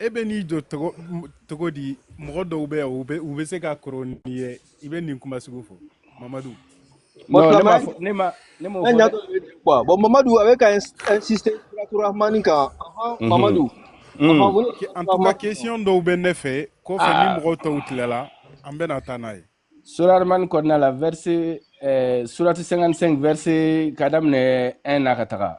e bɛ n'i jɔ togo di mɔgɔ dɔw bɛ yan u bɛ u bɛ se ka kɔrɔ n'i ye i bɛ nin kuma sugu fɔ mamadu ne ma ne m'o fɔ dɛ bon mamadu a bɛ ka insister suratu rahmani kan mhm. mamadu mhm. en tout cas question dɔw bɛ ne fɛ kɔfɛ ni ah. mɔgɔ tɔw tilala an bɛna taa n'a ye sura rahmani kɔnɔna la verset eh, surati 55 verset ka daminɛ 1 na ka taga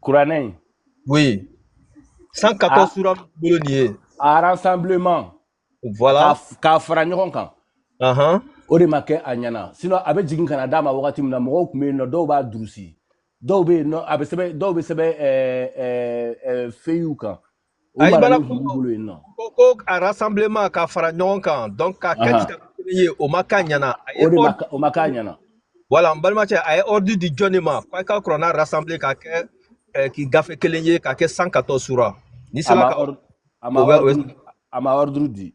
kuranɛ in oui 114 sura bolo nin ye a rassemblement voilà k'a fara ɲɔgɔn kan uh-huh. o de ma kɛ a ɲɛna sinon a bɛ jigin ka na d'a ma wagati min na mɔgɔw tun bɛ yen nɔ dɔw b'a durusi dɔw bɛ yen nɔ a bɛ sɛbɛn dɔw bɛ sɛbɛn feuilles kan O ayi maralen b'u balakungo bolo yen nɔ ko ko a rassemblement k'a fara ɲɔgɔn kan donc k'a kɛ Ahan. kitabu kelen ye o ma k'a ɲɛna a ye o de ma ordre ka- o ma k'a ɲɛna voilà n balimakɛ a ye ordre di jɔn de ma k'a ka kuranna rassembler k'a kɛ eh, k'i gafe kelen ye k'a kɛ 114 sura n'i a sera ma ka ordre a o ma bɛ o ordre a ma ordre di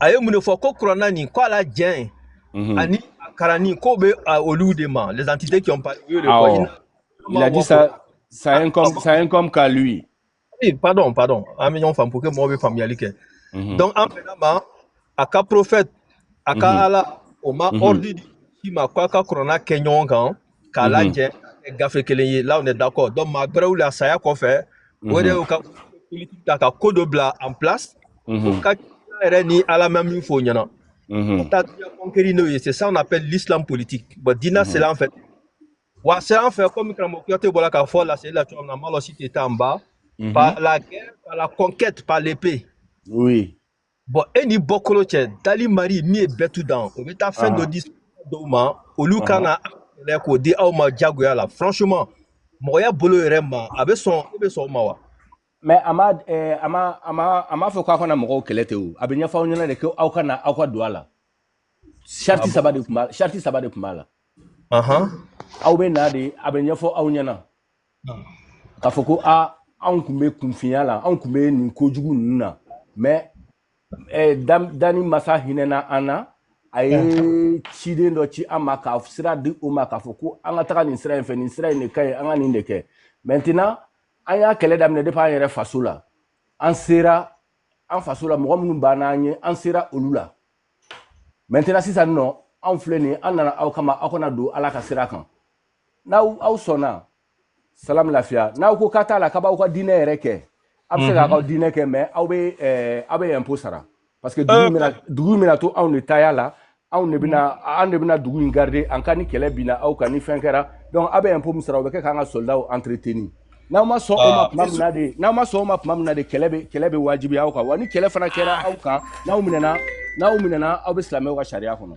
a ye mun de fɔ ko kuranna nin ko a lajɛn mhm. ani a kalanni k'o bɛ olu de ma les entités qui ont parlé u y'o de fɔ il a dit ça ça incombe ça incombe qu'à lui oui pardon pardon an bɛ ɲɔgɔn faamu pour que mɔgɔw bɛ faamuyali kɛ donc an bɛnna a ma a ka prophète a ka ala o ma ordre di si ma k'a ka kuranna kɛ ɲɔgɔn kan k'a mhm. lajɛ gafe kelen ye là on est d'accord donc maa gbɛrɛw le a saya kɔfɛ o de y'u ka politique ta ka ko dɔ bila en place u ka yɛrɛ ni ala ma min f'o ɲɛna ka taa diɲɛ conquérir n'o ye c'est ça on appelle l'islam politique bon diinɛ sera an fɛ wa a sera an fɛ komi karamɔgɔ kuyate bɔra k'a fɔ laseli la cogo min na malɔsi tɛ taa n ba par la guerre par la conquête par l'épée oui bon e ni bɔkolo cɛ dali mari min ye bɛɛ tout dan o bɛ taa fɛn dɔ di dɔw ma olu ka na k'o di aw ma jagoya la franchement mɔgɔya bolo yɛrɛ ma a bɛ sɔn e bɛ sɔn o ma wa mais a ma eh, a ma a ma a ma fɔ k'a kana mɔgɔw kɛlɛ te o a bɛ ɲɛfɔ aw ɲɛna de ko aw ka na aw ka don a la sariti ah saba de tun b'a sariti saba de tun b'a la aw bɛ na de a bɛ ɲɛfɔ aw ɲɛna k'a fɔ ko a anw kun bɛ kunfinya la anw kun bɛ nin kojugu ninnu na mais eh, danni masa hinɛna an na a ye ciden dɔ ci an ma k'a sira di o ma k'a fɔ ko an ka taga nin sira in fɛ nin sira in de ka ɲi an ka nin de kɛ maintenant an y'a kɛlɛ daminɛ depuis an yɛrɛ faso la an sera an faso la mɔgɔ minnu b'an n'an ye an sera olu la maintenant sisan nɔ anw filɛ nin ye an nana aw kama aw ka na don ala ka sira kan n'aw aw sɔnna salam lafiya n'aw ko k'a t'a la k'a b'aw ka diinɛ yɛrɛ kɛ a bɛ se k'a k'aw diinɛ kɛ mais aw bɛ eh, aw bɛ impôt sara parce que dugu bɛna dugu bɛna to anw de taya la anw de bɛna anw de bɛna dugu in garder en cas ni kɛlɛ binna aw kan ni fɛn kɛra donc aw bɛ impôt min sara o bɛ kɛ k'an ka soldaw entretenir n'aw ma sɔn o ma ah, tuma min na de n'aw ma sɔn o ma tuma min na de kɛlɛ bɛ kɛlɛ bɛ wajibiya aw kan wa ni kɛlɛ fana kɛra ah. aw kan n'aw minɛna n'aw minɛna aw bɛ silamɛw ka sariya kɔnɔ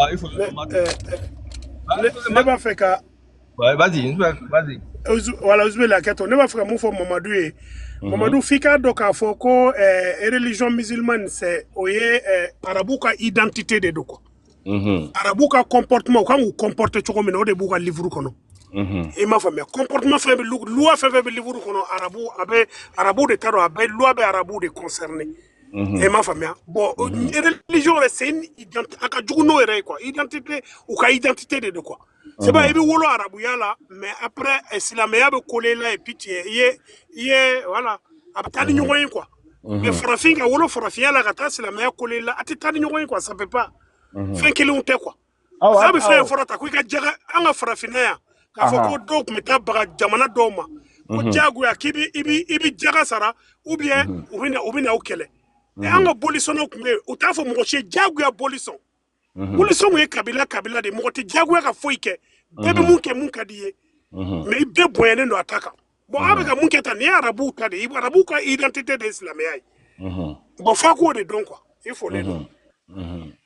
Ah, il faut le demander. Ne b'a fɛ ka. Vas-y, vas-y. Voilà, Ousmane Laketo, ne b'a fɛ ka mun fɔ Mamadu ye. Mhm. Mamadu f'i k'a dɔn k'a fɔ ko eh, religion musulmane c'est o ye eh, arabu ka identité de don quoi. Mhm. Arabu ka comportement u ka kan k'u comporter cogo min na o de b'u ka livre kɔnɔ. Mhm. i m'a faamuya comportement fɛn bɛ loi fɛn fɛn bɛ livre kɔnɔ arabu de ta don a bɛ loi bɛ arabu de concerner e m'a faamuya bon religion yɛrɛ c'est une identité a ka jugu n'o yɛrɛ ye quoi identité u ka identité de don quoi c'est vrai i bɛ wolo arabuya la mais après silamɛya bɛ coller a la et puis tu es i ye i ye voilà a bɛ taa ni ɲɔgɔn ye quoi mais farafin ka wolo farafinya la ka taa silamɛya coller a la a tɛ taa ni ɲɔgɔn ye quoi ça peut pas fɛn kelenw tɛ quoi Aw bɛ fɛn ye fɔlɔ ta ko i ka jaga an ka farafinna yan k'a fɔ ko dɔw tun bɛ taa baga jamana dɔw ma ko mhm. diyagoya k'i i bɛ jaga sara ou bien mhm. u bɛ na u kɛlɛ mhm. an ka bolisɔnw tun bɛ yen u t'a fɔ mɔgɔ si diyagoya bolisɔn bolisɔn ye kabila kabila de mɔgɔ tɛ diyagoya ka foyi kɛ bɛɛ bɛ mun kɛ mun ka d'i ye mais bɛɛ bonyalen don a ta kan bon aw bɛ ka mun kɛ ta nin ye arabuw ta de ye arabuw ka identité de ye silamɛya ye bon f'a k'o de dɔn quoi i fɔlen don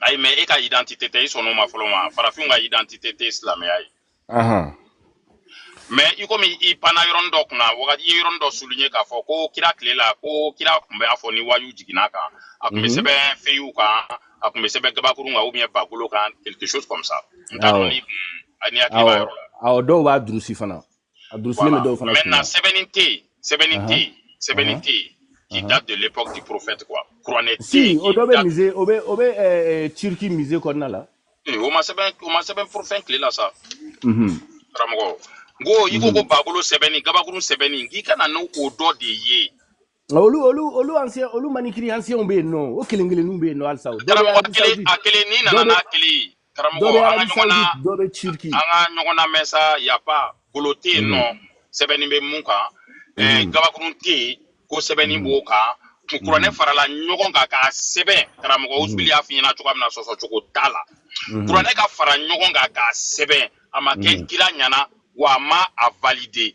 ayi mais e ka identité tɛ i sɔn'o ma fɔlɔ ma farafinw ka identité tɛ silamɛya ye mais i komi i panna yɔrɔnin dɔ kunna wagati i ye yɔrɔnin dɔ souligner k'a fɔ ko kira tile la ko kira tun bɛ a fɔ ni wayu jiginn'a kan a tun bɛ mhm. sɛbɛn feyiw kan a tun bɛ sɛbɛn gabakurun kan ou bien bagolo kan quelque chose comme ça n t'a dɔn ni kun n'i hakili b'a yɔrɔ la awɔ dɔw b'a durusi fana A durusilen bɛ dɔw fana kunna. Maintenant sɛbɛnni tɛ yen, sɛbɛnni tɛ yen, sɛbɛnni tɛ yen qui date de l'époque du prophète quoi. Kuranɛ tɛ yen. Si o dɔ bɛ musée o bɛ o bɛ ɛɛ Turquie musée kɔnɔna la. Ee o ma sɛbɛn prophète tile la sa. Unhun. Karamɔgɔ. N ko i ko ko bagolo sɛbɛnni gabakurun sɛbɛnni k'i ka na n'o dɔ de ye. Nka olu olu olu ancien olu manuscrit ancienw bɛ yen nɔ o kelen kelenninw bɛ yen nɔ halisa o dɔ bɛ karamɔgɔ Arabie kelen Saoudite a kelen n'i dɔ nana bɛ n'a kelen ye dɔ karamɔgɔ bɛ an ka Arabie ɲɔgɔn na Saoudite dɔ bɛ Turquie an ka ɲɔgɔn na mais ça y a pas golo tɛ yen nɔ Mhm, sɛbɛnni bɛ mun kan ɛɛ mhm, gabakurun tɛ yen ko sɛbɛnni mhm, b'o kan kun kuranɛ mhm, farala ɲɔgɔn kan k'a sɛbɛn karamɔgɔ mhm, usuli y'a f'i ɲɛna cogoya min na sɔsɔ cogo t'a la mhm, kuranɛ ka fara ɲɔgɔn kan k'a sɛbɛn a ma kɛ mhm, kira ɲɛna wa a ma a valider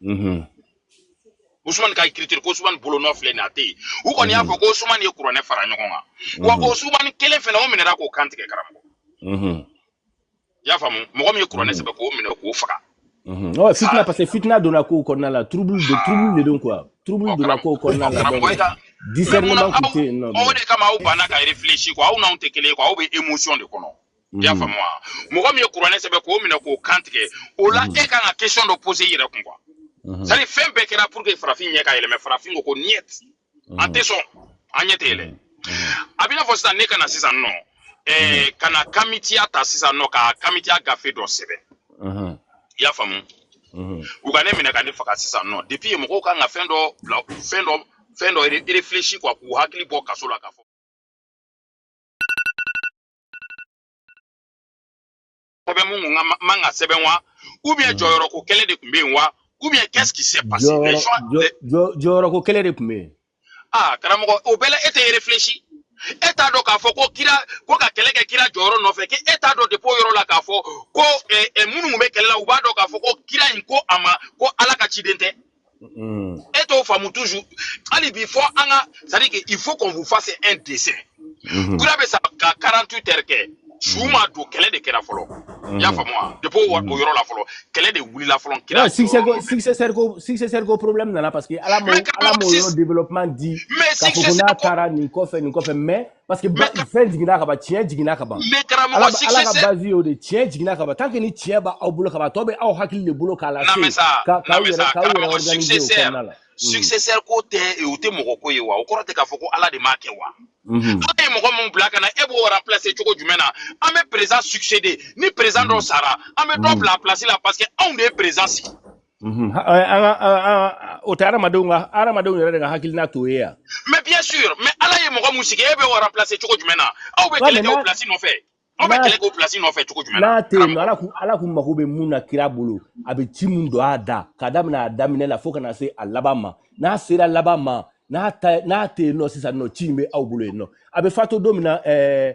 Mhm. Ousmane ka écriture ko Ousmane bolonɔ filɛ nin a tɛ yen u kɔni y'a fɔ ko Ousmane ye kuranɛ fara ɲɔgɔn kan wa o Ousmane kelen fana o minɛra k'o kan tigɛ karamɔgɔ i y'a faamu mɔgɔ min ye kuranɛ sɛbɛn k'o minɛ k'o faga ɔ fitina parce que fitina donna kow kɔnɔna la trouble de trouble de don quoi trouble donna kow kɔnɔna la donc discernement tun tɛ yen nɔ o de kama aw banna ka réfléchir quoi aw n'anw tɛ kelen ye quoi aw bɛ émotion de kɔnɔ i y'a faamu wa mɔgɔ min ye kuranɛ sɛbɛn k'o minɛ k'o kan tigɛ o la e kan ka question dɔ poser i yɛrɛ kun quoi c'est à dire fɛn bɛɛ kɛra pour que farafin ɲɛ ka yɛlɛ mais farafin ko ko niet an tɛ sɔn an ɲɛ tɛ yɛlɛ a b'i n'a fɔ sisan ne ka na sisan nɔ ɛɛ ka na kamitiya ta sisan nɔ ka kamitiya gafe dɔ sɛbɛn i y'a faamu u ka ne minɛ ka ne faga sisan nɔ depuis yen mɔgɔw kan ka fɛn dɔ bila fɛn dɔ fɛn dɔ réfléchir quoi k'u hakili bɔ kaso la k'a fɔ sɛbɛn mun tun man kan ka sɛbɛn wa ou bien hmm. jɔyɔrɔ ko kɛlɛ de tun bɛ yen wa ou bien qu'est-ce qui s'est passé jɔyɔrɔ ko kɛlɛ de tun bɛ yen aa karamɔgɔ o bɛɛ la e tɛ réfléchir e t'a dɔn k'a fɔ ko kira ko ka kɛlɛ kɛ kira jɔyɔrɔ nɔfɛ kɛ e t'a dɔn depuis o yɔrɔ la k'a fɔ ko minnu bɛ kɛlɛ la u b'a dɔn k'a fɔ ko kira in ko a ma ko ala ka ciden tɛ mm. e t'o faamu toujours hali bi fo an ka c'est à dire que il faut qu'on vous fasse un dessin mm-hmm. kira bɛ sa ka 48 heures kɛ su ma don kɛlɛ de kɛra fɔlɔ i y'a faamu wa depuis o yɔrɔ la fɔlɔ kɛlɛ de wulila fɔlɔ kira succès ko successeur ko successeur ko problème nana parce que ala m'o ala m'o yɔrɔ développement di k'a fɔ ko n'a taara nin kɔfɛ nin kɔfɛ mais parce que fɛn jiginna ka ban tiɲɛ jiginna ka ban ala ka base y'o de tiɲɛ jiginna ka ban tant que ni tiɲɛ b'aw bolo ka ban tɔ bɛ aw hakili de bolo k'a lase k'aw yɛrɛ k'aw yɛrɛ organiser o kɔnɔna la successeur ko tɛ o tɛ mɔgɔ ko ye wa o kɔrɔ tɛ k'a fɔ ko ala de m'a kɛ wa ala ye mɔgɔ min bila ka na e b'o remplacer cogo jumɛn na an bɛ président succéder ni président dɔ sara an bɛ dɔ bila a place la parce que anw de ye président sigi Mhm. o tɛ adamadenw ka adamadenw yɛrɛ de ka hakilina t'o ye wa mais bien sûr mais ala ye mɔgɔ mun sigi e bɛ o remplacer cogo jumɛn na aw bɛ kɛlɛ kɛ o place nɔfɛ aw bɛ kɛlɛ kɛ o place nɔfɛ cogo jumɛn na n'a tɛ yen ala kun ala kun mago bɛ mun na kira bolo a bɛ ci mun don a da ka daminɛ a daminɛ la fo ka na se a laban ma n'a sera laban ma n'a ta n'a tɛ yen nɔ sisan nɔ ci in bɛ aw bolo yen nɔ a bɛ fato don min na ɛɛ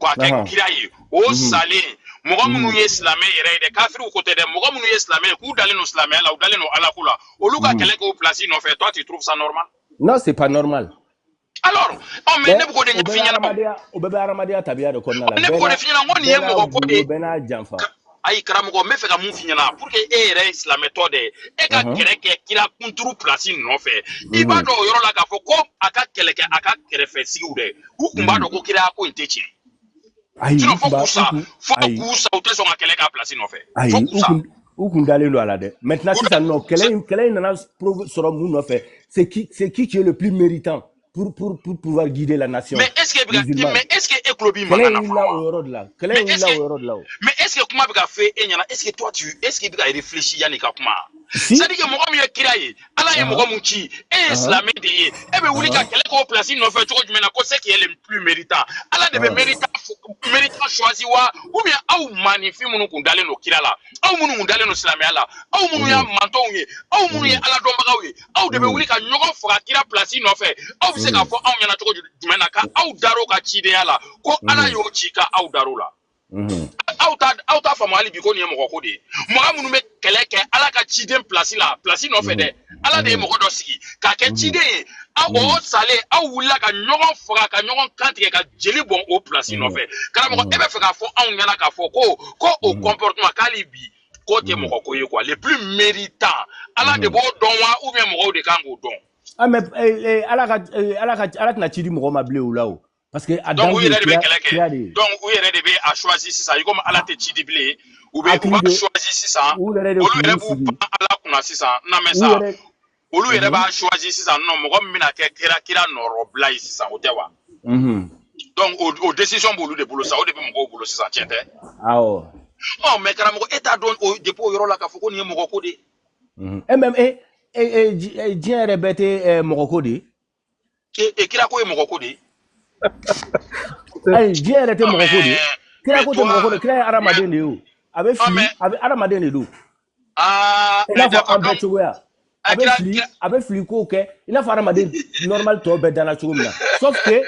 ko a kɛ Naam. kira ye o Mhm. salen mɔgɔ minnu Mhm. ye silamɛ yɛrɛ ye dɛ kafiriw ko tɛ dɛ mɔgɔ minnu ye silamɛ ye k'u dalen don silamɛya la u dalen don ala ko la olu ka Mhm. kɛlɛ k'o place nɔfɛ toi tu trouves ça normal non c'est pas normal alors ɔ mais bɛɛ ne bɛ k'o de o bɛɛ ɲɛf'i ɲɛna o adamadenya o bɛɛ bɛ adamadenya tabiya de kɔnɔna la ne bɛ bɛɛ k'o n'a de f'i ɲɛna n ko nin bɛɛ ye n'a mɔgɔ ko de wugulo ye bɛɛ n'a janfa ayi karamɔgɔ n bɛ fɛ ka mun f'i ɲɛna pour que e yɛrɛ ye silamɛtɔ de ye e ka kɛlɛ kɛ kira kunturu pilasi nɔfɛ i b'a dɔn o yɔrɔ la k'a fɔ ko a ka kɛlɛ kɛ a ka kɛrɛfɛ sigiw dɛ u tun b'a dɔn ko kira ko in tɛ tiɲɛ sinon fo k'u sa fo k'u sa u tɛ sɔn ka kɛlɛ k'a pilasi nɔfɛ fo k'u sa u kun dalen don a la dɛ maintenant sisan non kɛlɛ in kɛlɛ in nana sɔrɔ mun nɔfɛ c'est qui c'est qui qui est le plus méritant pour, pour, pour pouvoir guider la nation. Mais est-ce que musulmane. mais est-ce que Eklobi Kɛlɛ maintenant wulila o yɔrɔ de la. Kɛlɛ Mais est-ce wulila que- o yɔrɔ de la o. Mais est-ce que kuma bɛ ka fɔ e ɲɛna est-ce que toi tu est-ce que i bɛ ka réfléchir yanni i ka kuma Si. c'est-à-dire que mɔgɔ min ye kira ye Ala ye Ahan. mɔgɔ min ci e ye Ahan. silamɛ de ye e bɛ wuli ka Ahan. kɛlɛ kɛ o place nɔfɛ cogo jumɛn na ko c'est qui est le plus méritant Ala de bɛ Ahan. méritant f- méritant choisi wa ou bien aw maninfin minnu kun dalen don kira la aw minnu kun dalen don silamɛya la aw minnu y'a Mhm. mantonw ye aw minnu ye Mhm. Ala dɔnbagaw ye aw de bɛ wuli ka ɲɔgɔn faga kira pilasi nɔfɛ aw bɛ se k'a fɔ anw ɲɛna cogo jumɛn na ka aw dar'o ka cidenya la ko ala y'o ci ka aw dar'o la aw t'a aw t'a faamu hali bi ko nin ye mɔgɔ ko de ye mɔgɔ minnu bɛ kɛlɛ kɛ ala ka ciden pilasi la pilasi nɔfɛ dɛ ala de ye mɔgɔ dɔ sigi k'a kɛ ciden ye aw o salen aw wulila ka ɲɔgɔn faga ka ɲɔgɔn kan tigɛ ka jeli bɔn o pilasi nɔfɛ karamɔgɔ e bɛ fɛ k'a fɔ anw ɲɛna k'a fɔ ko ko o comportement k'ali bi k'o tɛ mɔgɔ ko ye quoi le plus méritant ala de b'o dɔn wa ou bien mɔgɔw de kan k'o dɔn. ah mais eh, eh, ala ka eh, ala ka ala tɛna ci di mɔgɔ ma bilen o la o. parce que a dan ye kira de bɛ kɛlɛ kɛ donc u yɛrɛ de bɛ a choisi sisan i komi ala tɛ ci di bilen u bɛ u b'a choisi sisan olu yɛrɛ b'u pan ala kunna sisan na mais ça olu yɛrɛ mhm. b'a choisi sisan non mɔgɔ min bɛna kɛ kira kira nɔrɔbila ye sisan o tɛ wa mhm. donc o décision b'olu de bolo sa o de bɛ mɔgɔw bolo sisan tiɲɛ tɛ awɔ ɔ mais karamɔgɔ e t'a dɔn o depuis o yɔrɔ la k'a fɔ ko nin ye mɔgɔ ko de ye e mais e diɲɛ yɛrɛ bɛɛ tɛ mɔgɔ ko de ye e kira ko ye mɔgɔ ko de ye ayi diɲɛ yɛrɛ tɛ mɔgɔ ko de ye kira ko tɛ mɔgɔ ko de kira ye hadamaden de ye o a bɛ fili a bɛ hadamaden de don ah, i n'a fɔ an bɛɛ cogoya a bɛ fili a bɛ fili kow kɛ i n'a fɔ hadamaden normal tɔw bɛɛ danna cogo min na sauf que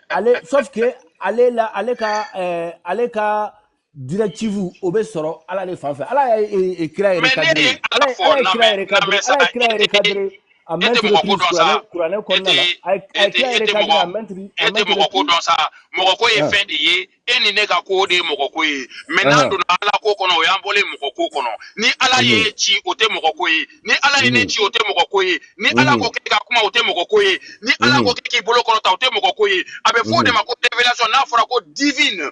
ale sauf que ale la ale ka ɛɛ eh, ale ka directive o bɛ sɔrɔ ala de fan fɛ ala ye e, e, kira yɛrɛ cadré ala ye kira yɛrɛ cadré ala ye kira yɛrɛ cadré à maintes reprises kuranɛ kɔnɔna la a ye kira yɛrɛ cadré à maintes reprises e tɛ mɔgɔ ko dɔn sa mɔgɔ ko ye ah. fɛn de ye e ni ne ka ko de ye mɔgɔ ko ye mais ah. n'an donna ala ko kɔnɔ o y'an bɔlen mɔgɔ ko kɔnɔ ni ala ye mm-hmm. ci o tɛ mɔgɔ ko ye ni ala ye ne mm-hmm. ci o tɛ mɔgɔ ko ye ni ala mm-hmm. ko k'i ka kuma o tɛ mɔgɔ ko ye ni ala ko k'i bolo kɔrɔta o tɛ mɔgɔ ko ye a bɛ fɔ o de ma ko révélation n'a fɔra ko divine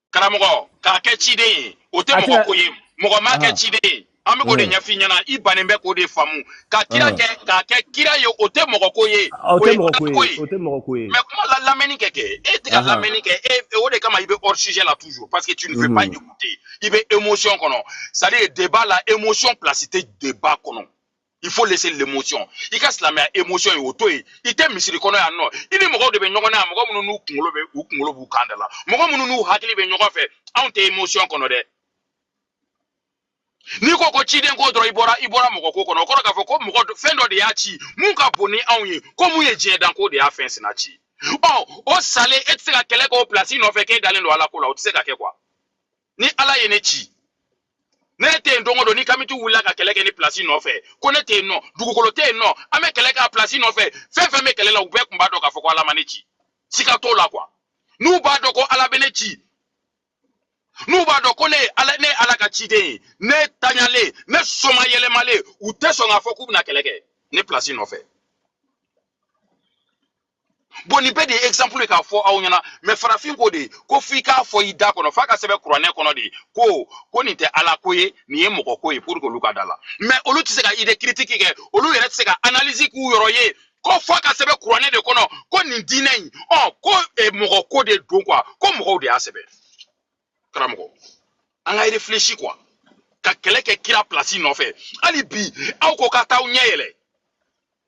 karamɔgɔ k'a kɛ ciden ye o tɛ mɔgɔ ko ye mɔgɔ m'a kɛ ciden ye an bɛ k'o de ɲɛf'i ɲɛna i bannen bɛ k'o de faamu ka kira kɛ k'a kɛ kira ye o tɛ mɔgɔ ko ye o tɛ mɔgɔ ko ye mais kuma la lamɛnni kɛ kɛ e tɛ ka lamɛnni kɛ e, e o de kama i bɛ hors sujet la toujours parce que tu ne veux pas écouter i bɛ émotion kɔnɔ c'est à dire débat la émotion place tɛ débat kɔnɔ il faut laisser l'émotion i ka silamɛya émotion ye o to yen i tɛ misiri kɔnɔ yan nɔ i ni mɔgɔw de bɛ ɲɔgɔn na yan mɔgɔ minnu n'u kunkolo bɛ u kunkolo b'u kan de la mɔgɔ minnu n'u hakili bɛ ɲɔgɔn fɛ anw tɛ émotion kɔnɔ dɛ n'i ko ko ciden ko dɔrɔn i bɔra i bɔra mɔgɔ ko kɔnɔ o kɔrɔ k'a fɔ ko mɔgɔ fɛn dɔ de y'a ci mun ka bon ni anw ye ko mun ye diɲɛ dan ko de y'a fɛn sina ci ɔ o salen e tɛ se ka kɛlɛ kɛ o place nɔfɛ k'e dalen don ala ko la o tɛ se ka kɛ quoi ni ala ye ne ci ne tɛ yen don o don ni kamitiw wulila ka kɛlɛ kɛ ne place nɔfɛ ko ne tɛ yen nɔ dugukolo tɛ yen nɔ an bɛ kɛlɛ kɛ a place nɔfɛ fɛn fɛn bɛ kɛlɛ la u bɛɛ tun b'a dɔn k'a fɔ ko ala ma ne ci siga t'o la quoi n'u b'a dɔn ko ala bɛ ne ci n'u b'a dɔn ko ne ye ala ne ye ala ka ciden ye ne tagalen ne somayɛlɛmalen u tɛ sɔn k'a fɔ k'u bɛna kɛlɛ kɛ ne place nɔfɛ bon nin bɛɛ de ye exemple ye k'a fɔ aw ɲɛna mais farafin ko de ko f'i k'a fɔ i da kɔnɔ f'a ka sɛbɛn kuranɛ kɔnɔ de ko ko nin tɛ ala ko ye nin ye mɔgɔ ko ye pour que olu ka d'a la mais olu tɛ se ka idée critique kɛ olu yɛrɛ tɛ se ka analyse k'u yɔrɔ ye ko f'a ka sɛbɛn kuranɛ de kɔnɔ ko nin diinɛ in ɔ ko eh, mɔgɔ ko de don quoi ko mɔgɔw de y'a sɛbɛn karamɔgɔ an ka réfléchir quoi ka kɛlɛ kɛ kira place nɔfɛ hali bi aw ko ka t'aw ɲɛ yɛlɛ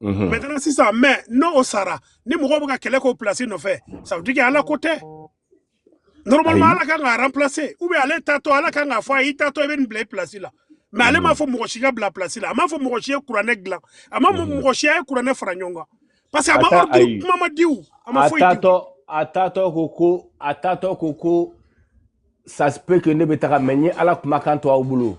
Mhm. maintenant sisan mais n'o sara ni mɔgɔw bɛ ka kɛlɛ k'o place nɔfɛ ça veut dire que ala ko tɛ normalement ala kan k'a remplacer ou bien ale taatɔ ala kan k'a fɔ a ye i taatɔ i bɛ nin bila i place la mais ale m'a mhm. fɔ mɔgɔ si ka bila place la a m'a fɔ mɔgɔ si ye kuranɛ dilan a m'a fɔ mhm. mɔgɔ si ye kuranɛ fara ɲɔgɔn kan parce que a ma ordre kuma ma di u a ma foyi di a taatɔ ko ko a taatɔ ko ko ça se peut que ne bɛ taga mais n ye ala kumakan to aw bolo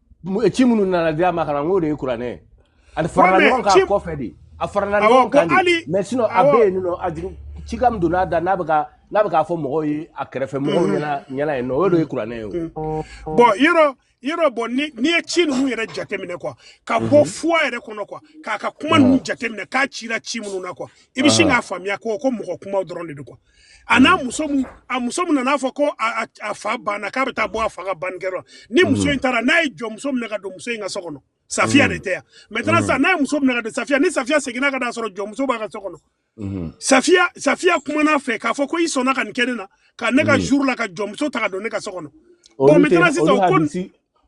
ci minnu nana di a ma ka na n k'o de ye kuranɛ ye a farala ɲɔgɔn kan a kɔfɛ de a farala ɲɔgɔn kan de mais sinon a bɛ yen nɔ a jigin ci ka min donna a da n'a bɛ ka n'a bɛ k'a fɔ mɔgɔw ye a kɛrɛfɛ mɔgɔw mm-hmm. ɲɛna ɲɛna yen nɔ o de ye kuranɛ ye o. Mm-hmm. bon yɔrɔ yɔrɔ bon ni n'i ye ci ninnu yɛrɛ jateminɛ quoi ka bɔ mm-hmm. foi yɛrɛ kɔnɔ quoi k'a ka kuma ninnu jateminɛ k'a cira ci minnu na quoi i bɛ sin k'a faamuya ko ko mɔgɔ kumaw dɔrɔn de don quoi. a n'a muso mu a muso min nan'a fɔ ko a fa banna k'a bɛ taa bɔ a fa ka bannikɛyɔrɔ ni muso in taara n'a ye jɔnmuso minɛ ka don muso in ka so kɔnɔ safiya de tɛ yan maintenant sisan n'a ye muso minɛ ka don safiya ni safiya seginna ka taa sɔrɔ jɔnmuso b'a ka so kɔnɔ Mm-hmm. safiya safiya kuman'a fɛ k'a fɔ ko i sɔnna ka nin kɛ ne na ka ne ka mm-hmm. jour la ka jɔnmuso ta ka don ne ka so kɔnɔ bon maintenant sisan o ko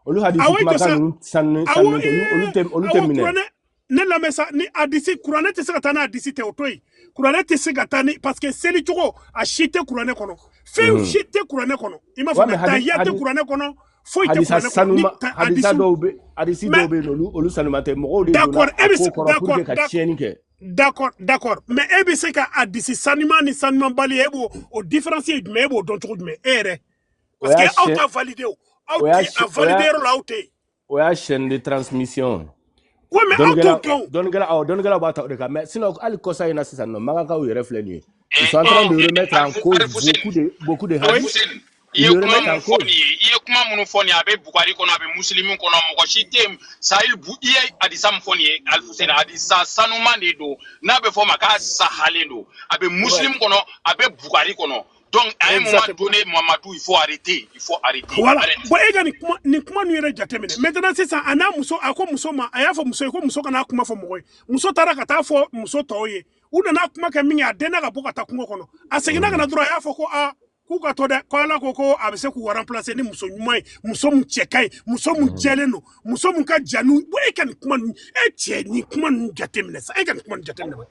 olu hadisi kumakan ninnu sanunen sanunen tɛ olu tɛ minɛ ne lamɛn sa ni hadisi kuranɛ tɛ se ka taa ni hadisi tɛ o to yen kuranɛ tɛ se ka taa ni parce que seli cogo a si tɛ kuranɛ kɔnɔ fɛn mhm. si tɛ kuranɛ kɔnɔ i m'a faamuya tahiya tɛ kuranɛ kɔnɔ foyi tɛ kuranɛ kɔnɔ ni hadisa dɔw bɛ hadisi dɔw bɛ yen olu olu sanuma tɛ mɔgɔw de donna a ko kɔrɔ pour que ka tiɲɛni kɛ d'accord d'accord mais e bɛ se ka hadisi sanuma ni sanumabali e b'o o différence ye jumɛn e b'o dɔn cogo jumɛn e yɛrɛ parce que aw t'a valider o aw tɛ a valider yɔrɔ la aw tɛ yen o y'a chaîne de transmission oui mais aw t'o kɛ o dɔnnikɛla awɔ dɔnnikɛlaw b'a ta o de kan mais sinon hali kɔsa in na sisan nɔ makankaw yɛrɛ filɛ nin ye ils sont en train de remettre en cause beaucoup de beaucoup de hadith i ye kuma mun fɔ nin ye i ye kuma minnu fɔ nin ye a bɛ bugari kɔnɔ a bɛ musilimu kɔnɔ mɔgɔ si tɛ yen sahih bu i ye hadisa min fɔ nin ye alifuseni hadisa sanuman de don n'a bɛ fɔ o ma k'a sahalen don a bɛ musilimu kɔnɔ a bɛ bugari kɔnɔ donc à un moment donné Mamadou il faut arrêter il faut arrêter voilà bon e ka nin kuma nin kuma ninnu yɛrɛ jateminɛ maintenant sisan a n'a muso a ko muso ma a y'a fɔ muso ye ko muso kana kuma fɔ mɔgɔ ye muso taara ka taa fɔ muso tɔw ye u nana kuma kɛ min kɛ a dɛnna ka bɔ ka taa kungo kɔnɔ a seginna ka na dɔrɔn a y'a fɔ ko aa k'u ka to dɛ ko ala ko ko a bɛ se k'u remplacer ni muso ɲuman ye muso min cɛ ka ɲi muso min jɛlen don muso min ka jan n'u e ka nin kuma ninnu e cɛ nin kuma ninnu jateminɛ sa e ka nin kuma ninnu jateminɛ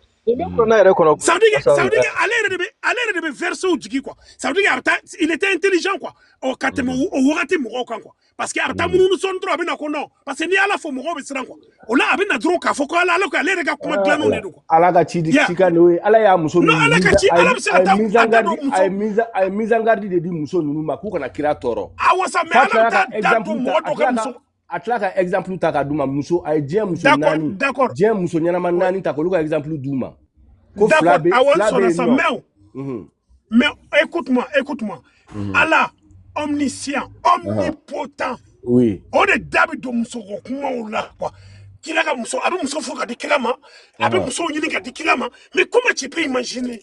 ale yɛrɛ de bɛ versetw jigi quoi ça veut dire a bɛ taa il était intelligent quoi ɔ ka tɛmɛ o wagati mɔgɔw kan quoi parce que a bɛ taa munumunu sɔɔni dɔrɔn a bɛ na ko non parce que n'i y'ala fɔ mɔgɔw bɛ siran quoi o la a bɛ na dɔrɔn k'a fɔ ko ala ala ko ale yɛrɛ ka kuma dilannenw de don quoi ala ka ci cikan o ye ala y'a muso ninnu ala ka ci ala bɛ se ka taa a ye mise en garde a ye mise en garde de di muso ninnu ma k'u kana kira tɔɔrɔ awɔ sa mais ala bɛ taa da don mɔgɔ dɔ ka muso a tila ka exemple ta ka d'u ma muso a ye diɲɛ muso naani diɲɛ muso ɲɛnama naani ta k'olu ka exemple d'u ma ko fila bɛ fila bɛ yen nɔ mhm. mais écoute-moi écoute-moi mhm. Allah omniscient omnipotent oui o de da bɛ don muso ko kumaw la quoi kira ka muso a bɛ muso fo ka di kira ma a bɛ muso ɲini ka di kira ma mais comment tu peux imaginer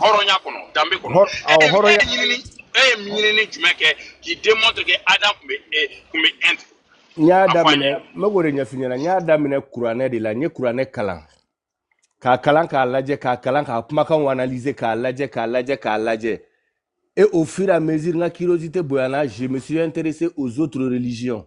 hɔrɔnya kɔnɔ danbe kɔnɔ e ye ɲinini e ye ɲinini jumɛn kɛ qui démontre que adam tun bɛ e tun bɛ yen n y'a daminɛ n bɛ k'o de ɲɛf'i ɲɛna n y'a daminɛ kuranɛ de la n ye kuranɛ kalan k'a kalan k'a lajɛ k'a kalan k'a kumakanw analyser k'a lajɛ k'a lajɛ k'a lajɛ et au fur et à mesure n ka curiosité bonyana je me suis intéressé aux autres religions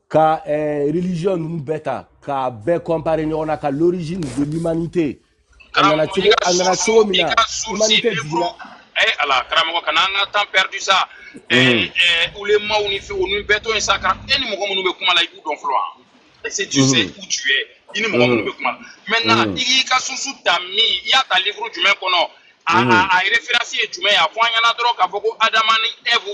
ka eh, religion ninnu bɛɛ ta k'a bɛɛ comparer ɲɔgɔn na ka l'origine de l'humanité a nana cogo a nana cogo min na humanité jigila eh, ala karamɔgɔ kana an ka temps perdu sa eh, mm. eh, ulemaw ni fɛn olu bɛɛ to yen sa ka e ni mɔgɔ minnu bɛ kuma la i b'u dɔn fɔlɔ wa est ce que tu sais mm-hmm. où tu es i ni mɔgɔ minnu mm. bɛ kuma la maintenant mm. i k'i ka source ta min i y'a ta livre jumɛn kɔnɔ a a référence ye jumɛn ye a fɔ an ɲɛna dɔrɔn k'a fɔ ko adama ni Ève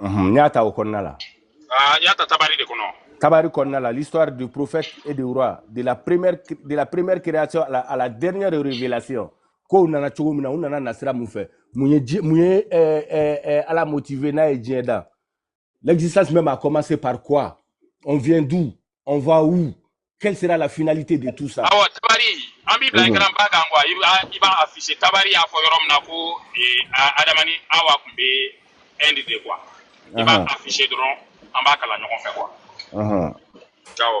n y'a ta o kɔnɔna la n y'a ta tabari de kɔnɔ tabari kɔnɔna la l'histoire des prophètes et des rois de la première de la première création à la, à la dernière révélation kow nana cogo min na u nana nasira mun fɛ mun ye ji mun ye eh, eh, eh, ala motiver n'a ye diɲɛ dan L'existence même a commencé par quoi On vient d'où On va où Quelle sera la finalité de tout ça Awa tabari, an b'i bila écran ba kan quoi. I b'a i b'a afficher tabari y'a fɔ yɔrɔ min na ko eh, a- Adama ni Awa tun bɛ Inde de quoi. I b'a Ahan, afficher dɔrɔn an b'a kalan ɲɔgɔn fɛ quoi. ahan. Ciao.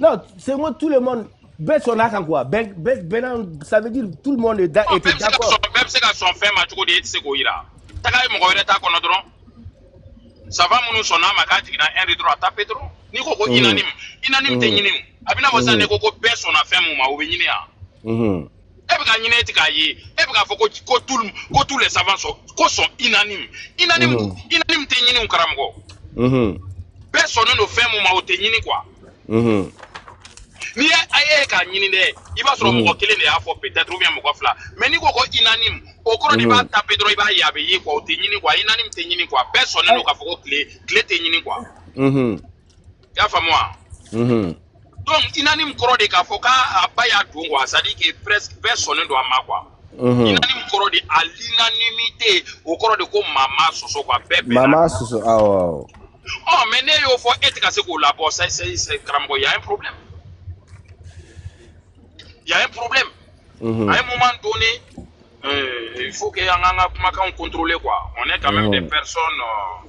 Non, c'est moi, tout le monde. Bɛɛ sɔnna a kan quoi bɛɛ bɛɛ bɛɛ ça veut dire tout le monde est d'accord bɛɛ bɛ se ka sɔn fɛn ma cogo di e tɛ se k'o yira taga ye mɔgɔ wɛrɛ ta kɔnɔ dɔrɔn savant minnu sɔnna a ma k'a jiginna Inde dɔrɔn a taper dɔrɔn n'i ko ko unanime unanime tɛ ɲini a bɛ n'a fɔ sisan n'i ko ko bɛɛ sɔnna fɛn min ma o bɛ ɲini wa e bɛ k'a ɲini e tɛ k'a ye e bɛ k'a fɔ ko ko tout ko tous les savants sont ko sont unanimes unanime mhm. unanime tɛ ɲini karamɔgɔ mhm. bɛɛ sɔnnen don fɛn mun ma o tɛ ɲini quoi mhm. n'i ye a ye k'a ɲini dɛ i b'a sɔrɔ mɔgɔ kelen de y'a fɔ peut-être ou bien mɔgɔ fila mais n'i ko ko unanime o kɔrɔ de i b'a taper dɔrɔn i b'a ye a bɛ ye quoi o tɛ ɲini quoi unanime tɛ ɲini quoi bɛɛ sɔnnen don k'a fɔ ko tile tile tɛ ɲini quoi. i y'a faamu wa mhm. donc unanime kɔrɔ de k'a fɔ k'a ba y'a dɔn quoi c'est à dire que presque bɛɛ sɔnnen don a ma quoi mhm. unanime kɔrɔ de à l'unanimité o kɔrɔ de ko maa m'a sɔsɔ quoi bɛɛ bɛɛ maa m'a sɔsɔ awɔ ɔ mais ne y'o fɔ e tɛ ka se k'o labɔ c'est c'est karamɔgɔ y a un problème y a un problème mhm. à un moment donné euh, il faut que an k'an ka kumakanw contrôler quoi on est quand même des personnes euh,